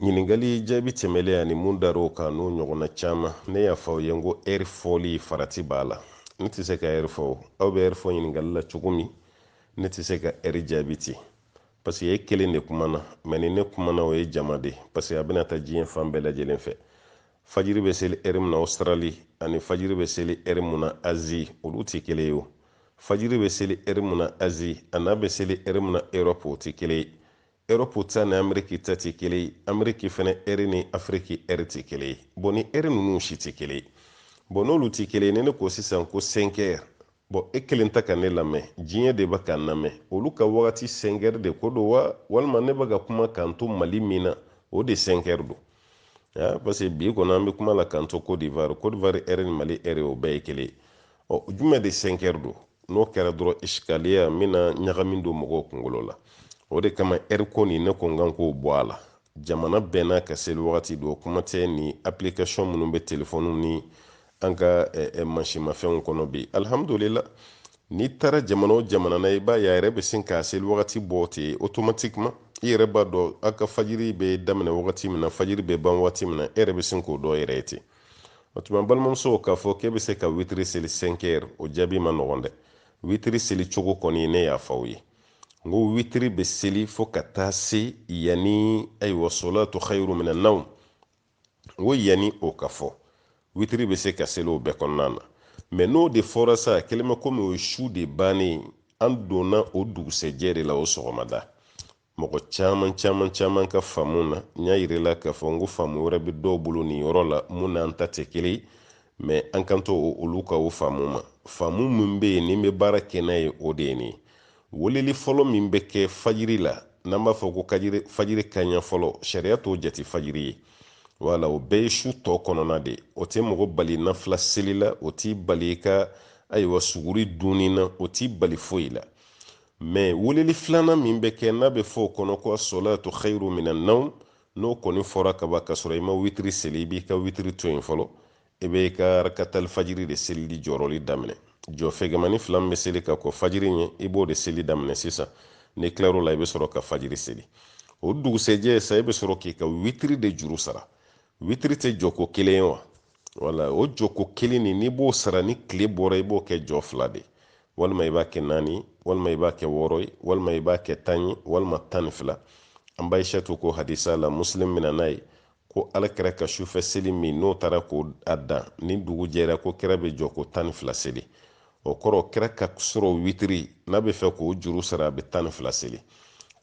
Ɲininkali jaabi tɛmɛlen ani mun dar'o kan n'o ɲɔgɔnna caman, ne y'a fɔ aw ye n ko ɛri fɔli farati b'a la. Ne tɛ se ka ɛri fɔ o. Aw bɛ ɛri fɔ ɲininkali la cogo min, ne tɛ se ka ɛri jaabi ten. Paseke e kelen de kumana, mɛ ni ne kumana o ye jama de ye, paseke a bɛna taa diɲɛ fan bɛɛ lajɛlen fɛ. Fajiri bɛ seli ɛri min na Ɔsitarali ani fajiri bɛ seli ɛri mun na Azi, olu tɛ kelen ye o. Fajiri bɛ seli ɛri mun na Azi an'a bɛ seli ɛri mun na Erɔpu, o tɛ kelen ye. Europe ta ni Ameriki ta tɛ kelen ye Ameriki fana ɛri ni Afiriki ɛri tɛ kelen ye bɔn ni ɛri ninnu si tɛ kelen ye bɔn n'olu tɛ kelen ye ni ne ko sisan ko sɛnkɛri bɔn e kelen tɛ ka ne lamɛn diɲɛ de bɛ ka n lamɛn olu ka wagati sɛnkɛri de ko don wa walima ne bɛ ka kuma k'an to Mali min na o de sɛnkɛri don parce que bi kɔni an bɛ kuma la k'an to Côte d'Ivoire Côte d'Ivoire ɛri ni Mali ɛri o bɛɛ ye kelen ye ɔ jumɛn de sɛnkɛri don n'o kɛra dɔrɔn isikaliya n bɛna ɲagami don mɔgɔw kunkolo la o de kama ɛri ko nin ne ko n kan k'o bɔ a la jamana bɛɛ n'a ka seli wagati don kuma tɛ ni application minnu bɛ telefɔniw ni an ka mansinmafɛnw kɔnɔ bi alihamudulila n'i taara jamana o jamana na i b'a ye a yɛrɛ bɛ sin k'a seli wagati bɔ ten automatiquement i yɛrɛ b'a dɔn a ka fajiri bɛ daminɛ wagati min na fajiri bɛ ban wagati min na e yɛrɛ bɛ sin k'o dɔn i yɛrɛ ye ten o tuma balimamuso k'a fɔ k'e bɛ se ka witiri seli sɛnkɛri o jaabi man nɔgɔn dɛ witiri seli cogo kɔni ne y'a fɔ aw ye n ko witiri bɛ seli fo ka taa se yanni ayiwa solatu khayru minan nawm n ko yanni o ka fɔ witiri bɛ se ka seli o bɛɛ kɔnɔna na mɛ n'o de fɔra sa kɛlen bɛ komi o ye su de bannen an donna o dugusɛjɛ de la o sɔgɔmada mɔgɔ caman caman caman ka faamu na n y'a yir'i la k'a fɔ n ko faamu wɛrɛ bɛ dɔw bolo nin yɔrɔ la mun n'an ta tɛ kelen ye mɛ an kan to olu ka o faamu ma faamu min bɛ yen ni n bɛ baara kɛ n'a ye o de ye nin ye weleli fɔlɔ min bɛ kɛ fajiri la n'an b'a fɔ ko fajiri kanɲɛ fɔlɔ sariya t'o jate fajiri ye wala o bɛɛ ye su tɔ kɔnɔna de o tɛ mɔgɔ bali nafila seli la o t'i bali i ka ayiwa suguri dunni na o t'i bali foyi la mɛ weleli filanan min bɛ kɛ n'a bɛ fɔ o kɔnɔ ko asolatu khairu mina nawm n'o kɔni fɔra kaban k'a sɔrɔ i ma witiri seli i b'i ka witiri to yen fɔlɔ i bɛ i ka rakatali fajiri de selili jɔrɔli daminɛ jɔ fɛgɛmannin fila min bɛ seli ka kɔn fajiri ɲɛ i b'o de seli daminɛ sisan n'i tilar'o la i bɛ sɔrɔ ka fajiri seli o dugusɛjɛ sa i bɛ sɔrɔ k'i ka witiri de juru sara witiri tɛ jɔko kelen ye wa wala o jɔko kelen nin n'i b'o sara ni tile bɔra i b'o kɛ jɔ fila de walima i b'a kɛ naani walima i b'a kɛ wɔɔrɔ ye walima i b'a kɛ tan ye walima tan ni fila an ba ayisatu ko hadisa la muslim mina n'a ye ko ala kira ka sufɛ seli min n'o taara k'a dan ni dugu jɛra ko kira bɛ jɔko tan ni fila seli o kɔrɔ kira ka sɔrɔ witiri n'a bɛ fɛ k'o juru sara a bɛ tan ni fila seli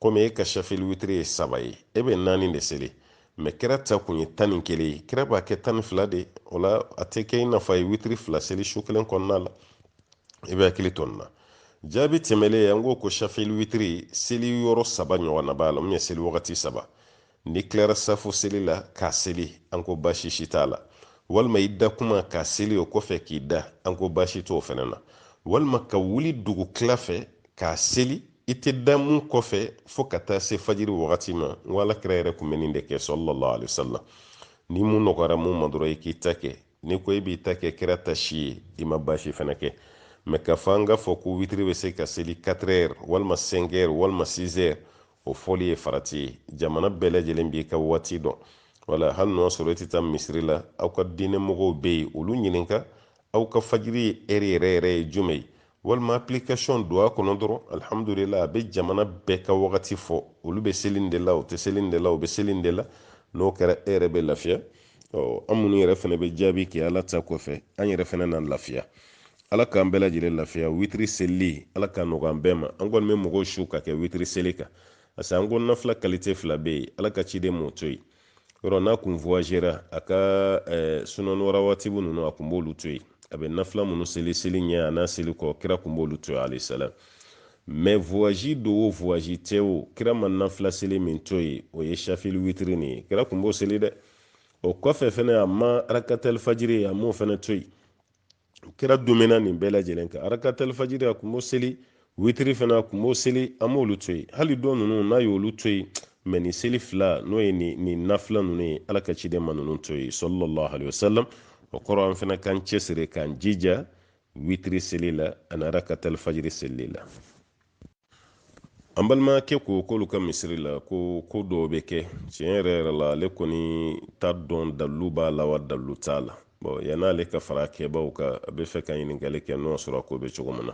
komi e ka shafili witiri ye saba ye e bɛ naani de seli mɛ kira ta kun ye tan ni kelen ye kira b'a kɛ tan ni fila de o la a tɛ kɛ i n'a fɔ a ye witiri fila seli su kelen kɔnɔna la i b'i hakili to nin na jaabi tɛmɛlen an ko ko shafili witiri seli yɔrɔ saba ɲɔgɔnna b'a la min ye seli wagati saba n'i tilara safo seli la k'a seli an ko baasi si t'a la walima i da kuma k'a seli o kɔfɛ k'i da an ko baasi t'o fana na walima ka wuli dugu tila fɛ k'a seli i tɛ da mun kɔfɛ fo ka taa se fajiri wagati ma n ko ala kira yɛrɛ tun bɛ nin de kɛ sallallahu alayhi wa sallam ni mun nɔgɔyara mun ma dɔrɔn i k'i ta kɛ n'i ko i b'i ta kɛ kira ta si ye i ma baasi fana kɛ mɛ k'a fɔ an k'a fɔ ko witiri bɛ se ka seli 4 heures walima 5 heures walima 6 heures o fɔli ye farati ye jamana bɛɛ lajɛlen b'i ka waati dɔn wala hali n'o sɔrɔ i tɛ taa misiri la aw ka diinɛ mɔgɔw bɛ yen olu ɲininka aw ka fajiri heure yɛrɛ yɛrɛ ye jumɛn ye walima application don a kɔnɔ dɔrɔn alhamdulila a bɛ jamana bɛɛ ka wagati fɔ olu bɛ seli nin de la u tɛ seli nin de la u bɛ seli nin de la n'o kɛra e yɛrɛ bɛ lafiya ɔ an minnu yɛrɛ fana bɛ jaabi kɛ ala ta kɔfɛ an yɛrɛ fana na lafiya ala k'an bɛɛ lajɛlen lafiya witiri selili ala k'a nɔgɔya an bɛɛ ma an kɔni bɛ mɔgɔw su ka kɛ witiri seli kan parce que an ko nafila qualité fila bɛ yen ala ka ciden m'o to yen yɔrɔ n'a kun voyagera a ka eh, sunani warawatibu ninnu a kun b'olu to yen a bɛ nafila minnu seli seli ɲɛ a n'a seli kɔ kira kun b'olu to yen alayhi salam mɛ voyage don o voyage tɛ o kira ma nafila seli min to yen o ye shafili witiri nin ye kira kun b'o seli dɛ o kɔfɛ fɛnɛ a ma arakatal fajiri a m'o fɛnɛ to yen kira dumɛna nin bɛɛ lajɛlen kan arakatal fajiri a kun b'o seli witiri fana a kun b'o seli a m'olu to yen hali dɔ ninnu n'a y'olu to yen mɛ nin seli fila n'o ye nin nafila ninnu ye ala ka ciden ma ninnu to yen sallallahu alaihi wasallam o kɔrɔ an fana k'an cɛsiri k'an jija witiri seli la ani arakatal fajiri seli la an balimakɛ ko k'olu ka misiri la ko ko dɔw bɛ kɛ tiɲɛ yɛrɛ yɛrɛ la ale kɔni t'a dɔn dalilu b'a la wa dalilu t'a la bon yann'ale ka fara kɛbaw kan a bɛ fɛ ka ɲininkali kɛ n'o sɔrɔ a ko bɛ cogo min na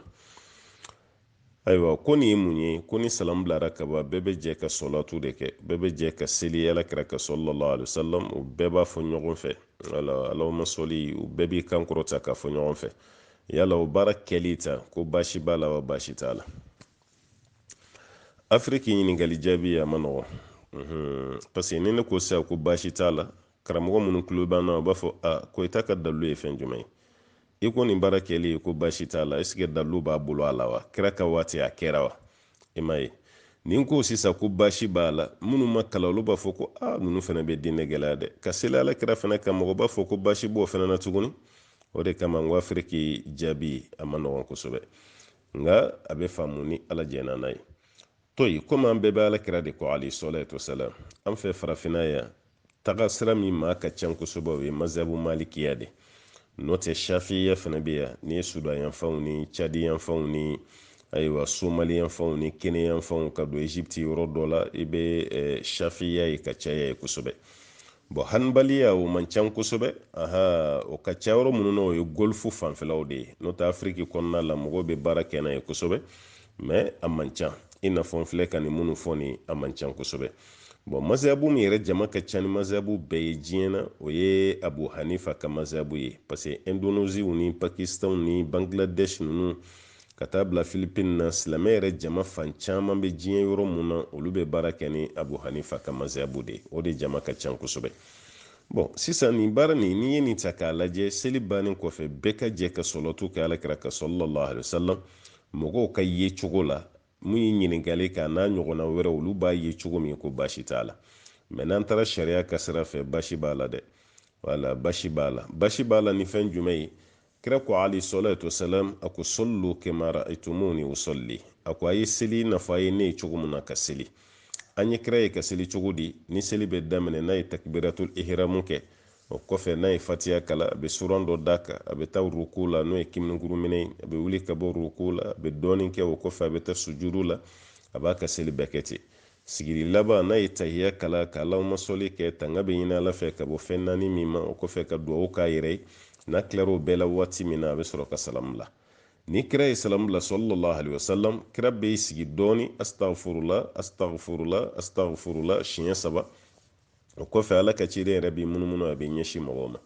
ayiwa ko nin ye mun ye ko ni salamu bilara ka ban bɛɛ bɛ jɛ ka salatu de kɛ bɛɛ bɛ jɛ ka seli ala kira kan sallallahu alayhi salam u bɛɛ b'a fɔ ɲɔgɔn fɛ wala allahumma salli u bɛɛ b'i kan kɔrɔta k'a fɔ ɲɔgɔn fɛ yala o baara kɛli ta ko baasi b'a la wa baasi t'a la afiriki ɲininkali jaabi a man nɔgɔn parce que ni ne ko sisan ko baasi t'a la karamɔgɔ minnu tulo b'an na u b'a fɔ a ko i ta ka dalilu ye fɛn jumɛn ye i ko nin baara kɛli ko baasi t'a la est ce que dalilu b'a bolo a la wa kira ka waati a kɛra wa i m'a ye ni n ko sisan ko baasi b'a la minnu ma kalan olu b'a fɔ ko a ah, ninnu fana bɛ diinɛ gɛlɛya dɛ ka seli ala kira fana kan mɔgɔ b'a fɔ ko baasi b'o fana na tuguni o de kama n ko afiriki jaabi a man nɔgɔn kosɛbɛ nka a bɛ faamu ni ala jɛnna n'a ye to yen komi an bɛɛ bɛ ala kira de kɔ alayhi salatu wasalam an fɛ farafinna yan taga sira min maa ka can kosɛbɛ o ye mazabu malikiya de n'o tɛ shafiya fana bɛ yan ni sudan yanfanw ni cadi yanfanw ni ayiwa somali yanfanw ni kenya yanfanw ka don egypte yɔrɔ dɔ la i bɛ eh, shafiya ye ka caya yen kosɛbɛ bɔn hanbaliya o man can kosɛbɛ aha o ka ca yɔrɔ minnu na o ye golfu fanfɛlaw de ye n'o tɛ afiriki kɔnɔna la mɔgɔw bɛ baara kɛ n'a ye kosɛbɛ mɛ a man ca i n'a fɔ n filɛ ka nin minnu fɔ nin a man ca kosɛbɛ bɔn mazabu min yɛrɛ jama ka ca ni mazabu bɛɛ ye diɲɛ na o ye abu hanifa ka mazabu ye parce que indoneziw ni pakistanw ni bangladesh ninnu ka taa bila filipine na silamɛ yɛrɛ jama fan caman bɛ diɲɛ yɔrɔ min na olu bɛ baara kɛ ni abu hanifa ka mazabu de o de jama ka ca kosɛbɛ bɔn sisan nin baara nin n'i ye nin ta k'a lajɛ seli bannen kɔfɛ bɛɛ ka jɛ ka salatu kɛ ala kira kan sɔlɔlɔhu alaihi wasallam mɔgɔw ka yecogo la min ye ɲininkali kɛ n'a ɲɔgɔnna wɛrɛ olu b'a ye cogo min ko basi t'a la mɛ n'an taara sariya ka sira fɛ basi b'a la dɛ wala basi b'a la basi b'a la ni fɛn jumɛn ye kira ko alayhi salatu wasalam a ko sɔllu kema ra'aytumuni usalli a ko a ye seli i n'a fɔ a ye ne ye cogo min na ka seli an ye kira ye ka seli cogo di ni seli bɛ daminɛ n'a ye takbiratul ihramu kɛ o kɔfɛ n'a ye fatiya kalan a bɛ suran dɔ d'a kan a bɛ taa ruku la n'o ye kiminikuruminɛ ye a bɛ wuli ka bɔ ruku la a bɛ dɔɔnin kɛ o kɔfɛ a bɛ taa sujudu la a b'a ka seli bɛɛ kɛ ten sigili laban n'a ye tahiya kalan ka alahuma sɔli kɛ tanga bɛ ɲini ala fɛ ka bɔ fɛn naani min ma o kɔfɛ ka duwawu k'a yɛrɛ ye n'a tilara o bɛɛ la waati min na a bɛ sɔrɔ ka salamu bila ni kira ye salamu bila sɔlɔlɔlahu alaihi wasallam kira bɛ sigi dɔɔni astagfurula astagfurula astagfurula siɲɛ saba o kɔfɛ ala ka ciden yɛrɛ bɛ munumunu a bɛ ɲɛsin mɔgɔw ma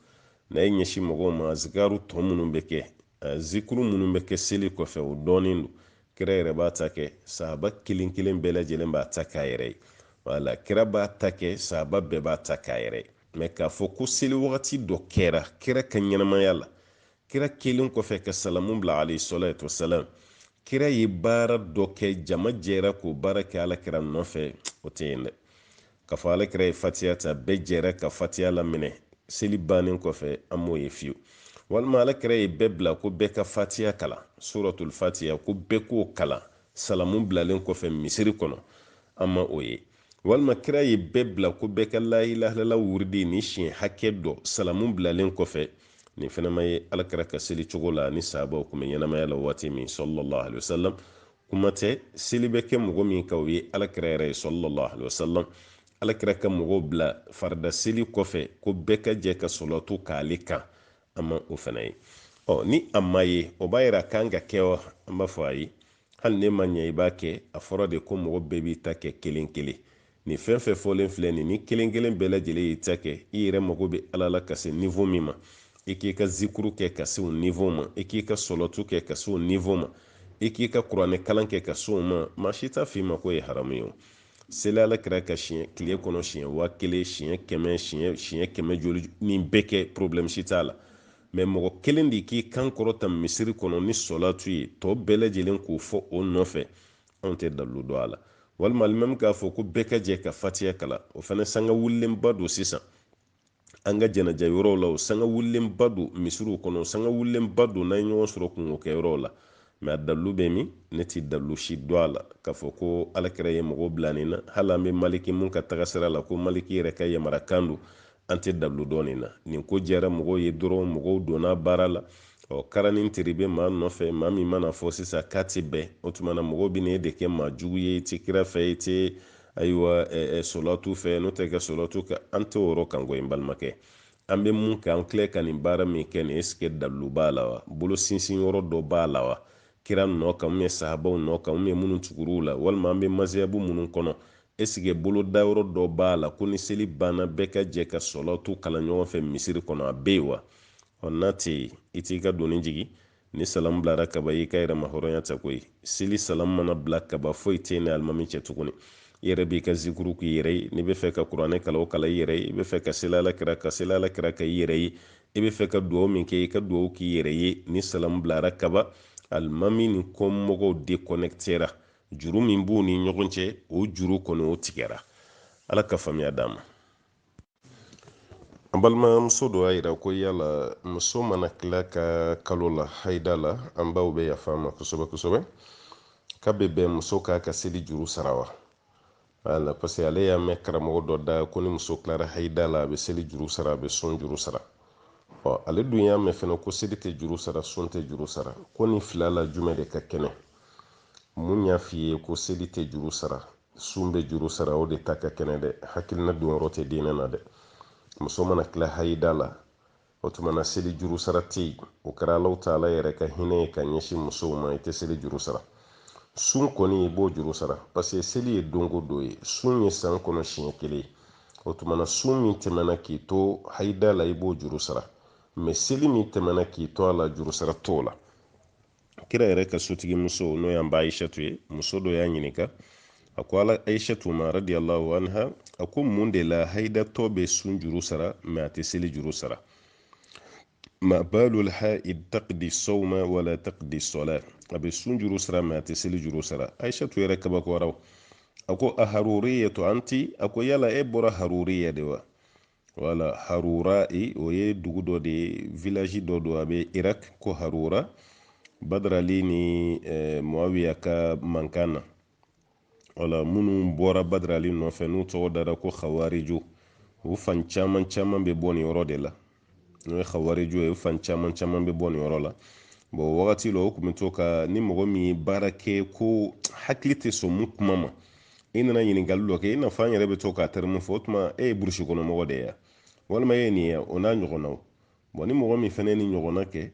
n'a ye ɲɛsin mɔgɔw ma azikaru tɔ minnu bɛ kɛ zikuru minnu bɛ kɛ seli kɔfɛ o dɔnnen don kira yɛrɛ b'a ta kɛ sahaba kelen kelen bɛɛ lajɛlen b'a ta k'a yɛrɛ ye wala kira b'a ta kɛ sahaba bɛɛ b'a ta k'a yɛrɛ ye mɛ k'a fɔ ko seli wagati dɔ kɛra kira ka ɲɛnamaya la kira kɛlen kɔfɛ ka salamu bila alayhi salatu wasalam kira ye baara dɔ kɛ jama jɛra k'o baara kɛ ala kira nɔfɛ o tɛ yen dɛ k'a fɔ alakira ye fatiya ta bɛɛ jɛra ka fatiya laminɛ seli bannen kɔfɛ an m'o ye fiyewu walima alakira ye bɛɛ bila ko bɛɛ ka fatiya kalan suratul fatiya ko bɛɛ k'o kalan salamu bilalen kɔfɛ misiri kɔnɔ an ma o ye walima kira ye bɛɛ bila ko bɛɛ ka layilahalala wuridi ni siɲɛ hakɛ dɔ salamu bilalen kɔfɛ nin fɛnɛ ma ye alakira ka seli cogo la ni sahabaw kun bɛ ɲɛnamaya la waati min sallallahu alaihi wasallam kuma tɛ seli bɛ kɛ mɔgɔ min kan o ye alakira yɛrɛ ye sallallahu alaihi wasallam alakira ka mɔgɔw bila farida seli kɔfɛ ko bɛɛ ka jɛ ka sɔlɔtu k'ale kan a ma o fana ye ɔ ni a ma ye o b'a yira k'an k'a kɛ wa an b'a fɔ ayi hali n'e ma ɲɛ i b'a kɛ a fɔra de ko mɔgɔ bɛɛ b'i ta kɛ kelen kelen Nin fɛn fɛn fɔlen filɛ nin ni kelen kelen bɛɛ lajɛlen y'i ta kɛ i yɛrɛ mago bɛ Ala la ka se niveau min ma i k'i ka zikuru kɛ ka se o niveau ma i k'i ka sɔlɔtu kɛ ka se o niveau ma i k'i ka kuranɛ kalan kɛ ka se o ma maa si t'a f'i ma k'o ye haramu ye o seli alakira kan siɲɛ tile kɔnɔ siɲɛ waa kelen siɲɛ kɛmɛ siɲɛ siɲɛ kɛmɛ joli nin bɛɛ kɛ problème si t'a la mɛ mɔgɔ kelen de k'i kan kɔrɔta misiri kɔnɔ ni sɔlatu ye tɔ bɛɛ lajɛlen k'o fɔ o nɔfɛ anw tɛ dalilu dɔn a la walima alimami k'a fɔ ko bɛɛ ka jɛ ka fatiya kalan o fana sanga wulilenba don sisan an ka janaja yɔrɔw la o sanga wulilenba don misiriw kɔnɔ sanga wulilenba don n'an ye ɲɔgɔn sɔrɔ kunko kɛ yɔrɔw la mɛ a dalilu bɛ min ne tɛ dalilu si dɔn a la k'a fɔ ko alakira ye mɔgɔw bila nin na hali an bɛ maliki min ka tagasira la ko maliki yɛrɛ ka yamarakan don an tɛ dalu dɔn nin na nin ko diyara mɔgɔw ye dɔrɔn mɔgɔw donna baara la ɔ karani teri bɛ maa nɔfɛ maa min man'a fɔ sisan k'a tɛ bɛn o tuma na mɔgɔw bɛ n'e de kɛ maa jugu ye i tɛ kira fɛ i tɛ ayiwa solatu fɛ n'o tɛ kɛ solatu kɛ an tɛ o yɔrɔ kan koyi n balimakɛ an bɛ mun kɛ an filɛ ka nin baara min kɛ nin est ce que dalu b'a la wa bolo sinsin yɔrɔ dɔ b'a la wa kira nɔ kan ou bien sahabaw nɔ kan ou bien minnu tugur'u la walima an bɛ maziyabu minnu kɔnɔ Est-ce que bolodayɔrɔ dɔ b'a la ko ni seli banna bɛɛ ka jɛ ka sɔlatu kalan ɲɔgɔn fɛ misiri kɔnɔ? A bɛ yen wa? Ɔ n'a tɛ yen, i t'i ka doni jigin. Ni salamu bilara kaba, i y'i ka yɛrɛmahɔrɔnya ta koyi. Seli salamu mana bila kaba, foyi tɛ i ni alimami cɛ tuguni. I yɛrɛ b'i ka zikuru k'i yɛrɛ ye. N'i bɛ fɛ ka kuranɛ kalan, o kalan i yɛrɛ ye. I bɛ fɛ ka seli Alakira kan, seli Alakira kan i yɛrɛ ye. I bɛ fɛ ka duwawu min kɛ, i ka duwawu k'i yɛrɛ ye. Ni salamu bilara kaba, alimami ni kɔmɔgɔw deconnectera. juru min b'u ni ɲɔgɔn cɛ o juru kɔni o tigɛra ala ka faamuya d'an ma an balimamuso dɔ y'a yira ko yala muso mana tila ka kalo la haida la an baw bɛ yafa an ma kosɛbɛ kosɛbɛ k'a bɛ bɛn muso k'a ka seli juru sara wa wala parce que ale y'a mɛn karamɔgɔ dɔ da ko ni muso tilara hayida la a bɛ seli juru sara a bɛ sun juru sara ɔ ale dun y'a mɛn fɛnɛ ko seli tɛ juru sara sun bɛ juru sara ko nin fila la jumɛn de ka kɛnɛ min y'a f'i ye ko seli tɛ juru sara sun bɛ juru sara o de ta ka kɛnɛ dɛ hakilina donyɔrɔ tɛ diinɛ na dɛ muso mana tila hayida la o tuma na seli juru sara tɛ yen o kɛra alahu taala yɛrɛ ka hinɛ ye ka ɲɛsin musow ma i tɛ seli juru sara sun kɔni i b'o juru sara paseke seli ye don go don ye sun ye san kɔnɔ siɲɛ kelen ye o tuma na sun min tɛmɛna k'i to hayida la i b'o juru sara mɛ seli min tɛmɛna k'i to a la juru sara t'o la kira yɛrɛ ka sotigi muso n'o y'an ba aishatu ye muso dɔ y'a ɲininka a ko ala aishatu ma radiyallahu anha a ko mun de la haidatɔ bɛ sun juru sara mɛ a tɛ seli juru sara ma balul haid taqdi sawma wala taqdi sala a bɛ sun juru sara mɛ a tɛ seli juru sara aishatu yɛrɛ kabakoyara a ko a haruriyatu anti a ko yala e bɔra haruriya de wa wala harura e o ye dugu dɔ de ye village dɔ don a bɛ irak ko harura badrali ni eh, muawiya ka mankan na wala minnu bɔra badrali nɔfɛ n'u tɔgɔ dara ko khawarijo u fan caman caman bɛ bɔ nin yɔrɔ de la n'o ye khawarijo ye u fan caman caman bɛ bɔ nin yɔrɔ la bɔn wagati la o tun bɛ to ka ni mɔgɔ min ye baara kɛ ko hakili tɛ sɔn min kuma ma i nana ɲininkali dɔ kɛ i n'a fɔ an yɛrɛ bɛ to ka tɛrɛmu fɔ o tuma e ye burusi kɔnɔ mɔgɔ de ye walima e ye nin ye o n'a ɲɔgɔnnaw bɔn ni mɔgɔ min fana ye nin ɲɔgɔnna kɛ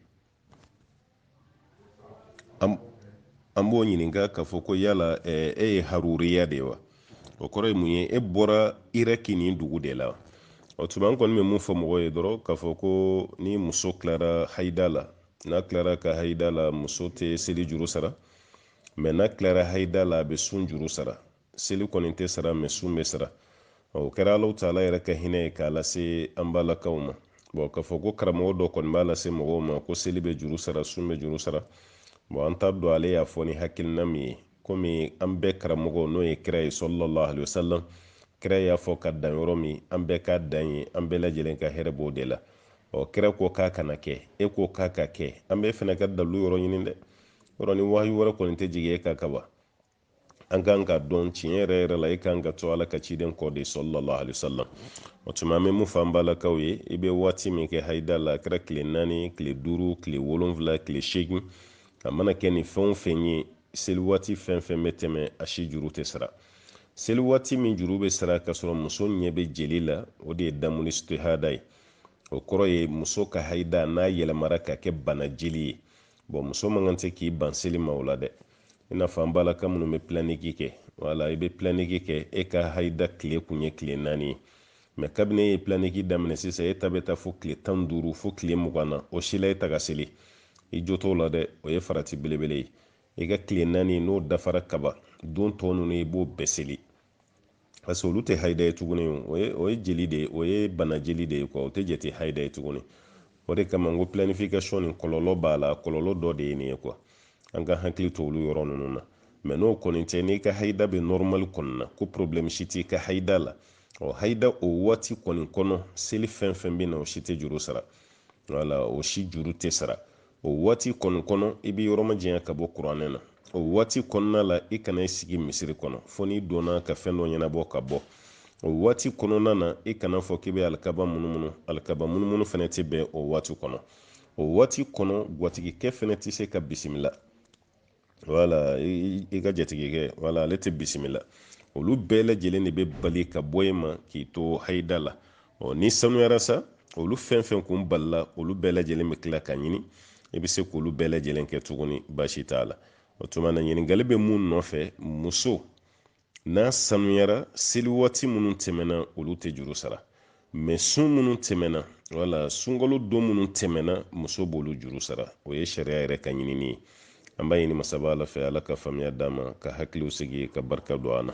an b'o ɲininka k'a fɔ ko yala e ye haruriya de ye wa o kɔrɔ ye mun ye e bɔra iraki nin dugu de la o tuma an kɔni bɛ min fɔ mɔgɔ ye dɔrɔn k'a fɔ ko ni muso tilara hayida la n'a tilara a ka hayida la muso tɛ seli juru sara mɛ n'a tilara haida la a bɛ sun juru sara seli kɔni tɛ sara mɛ sun bɛ sara o kɛra alahu taala yɛrɛ ka hinɛ ye k'a lase an balakaw ma bɔn k'a fɔ ko karamɔgɔ dɔ kɔni b'a lase mɔgɔw ma ko seli bɛ juru sara sun bɛ juru sara bɔn an t'a dɔn ale y'a fɔ ni hakilina min ye komi an bɛɛ karamɔgɔ n'o ye kira ye sallallahu alayhi wa sallam kira y'a fɔ ka dan yɔrɔ min an bɛɛ ka dan yen an bɛɛ lajɛlen ka hɛrɛ b'o de la ɔ kira ko k'a kana kɛ e ko k'a ka kɛ an bɛɛ fana ka dalu yɔrɔ ɲini dɛ yɔrɔ ni wahayu wɛrɛ kɔni tɛ jigin e kan ka ban an kan k'a dɔn tiɲɛ yɛrɛ yɛrɛ la e kan ka to ala ka ciden kɔ de sallallahu alayhi sallam o tuma an bɛ min fɔ an balakaw ye i bɛ waati min kɛ hayida la a kɛra tile naani tile duuru tile wolonfila tile seegin a mana kɛ nin fɛn o fɛn ye seli waati fɛn o fɛn bɛ tɛmɛ a si juru tɛ sara seli waati min juru bɛ sara ka sɔrɔ muso ɲɛ bɛ jeli la o de ye damul istihada ye o kɔrɔ ye muso ka hayida n'a yɛlɛmara ka kɛ bana jeli ye bɔn muso man kan tɛ k'i ban seli ma o la dɛ i n'a fɔ an balaka minnu bɛ pilaniki kɛ wala i bɛ pilaniki kɛ e ka hayida tile kun ye tile naani ye mɛ kabini e ye pilaniki daminɛ sisan e ta bɛ taa fo tile tan duuru fo tile mugan na o si la e tɛ ka seli i jo t'o la dɛ o ye farati belebele ye i ka tile naani n'o dafara ka ban don tɔ ninnu i b'o bɛɛ seli parce que olu tɛ hayida ye tuguni o ye o ye jeli de ye o ye bana jeli de ye kuwa o tɛ jate hayida ye tuguni o de kama n ko planification nin kɔlɔlɔ b'a la kɔlɔlɔ dɔ de ye nin ye kuwa an ka hakili to olu yɔrɔ ninnu na mɛ n'o kɔni tɛ n'i ka hayida bɛ nɔrɔmali kɔni na ko problɛmu si t'i ka hayida la ɔ hayida o waati kɔni kɔnɔ seli fɛn fɛn bɛ na o si tɛ juru sara wala o si juru tɛ sara o waati kɔni kɔnɔ i bɛ yɔrɔ majanya ka bɔ kuranɛ na o waati kɔnɔna la i kana i sigi misiri kɔnɔ fo n'i donna ka fɛn dɔ ɲɛnabɔ ka bɔ o waati kɔnɔna na i kana fɔ k'i bɛ alikaba munumunu alikaba munumunu fana tɛ bɛn o waati kɔnɔ o waati kɔnɔ gwatigikɛ fana tɛ se ka bisimila wala i ka jatigikɛ wala ale tɛ bisimila olu bɛɛ lajɛlen de bɛ bali ka bɔ e ma k'i to hayida la ɔ n'i sanuyara sa olu fɛn fɛn kun balila olu bɛɛ lajɛlen bɛ tila ka ɲini i bɛ se k'olu bɛɛ lajɛlen kɛ tuguni baasi t'a la o tuma na ɲininkali bɛ mun nɔfɛ muso n'a sanuyara seli waati minnu tɛmɛna olu tɛ juru sara mɛ sun minnu tɛmɛna wala sunkalo don minnu tɛmɛna muso b'olu juru sara o ye sariya yɛrɛ ka ɲinini ye an b'a ɲini masaba ala fɛ ala ka faamuya d'an ma ka hakiliw sigi ka barika don an na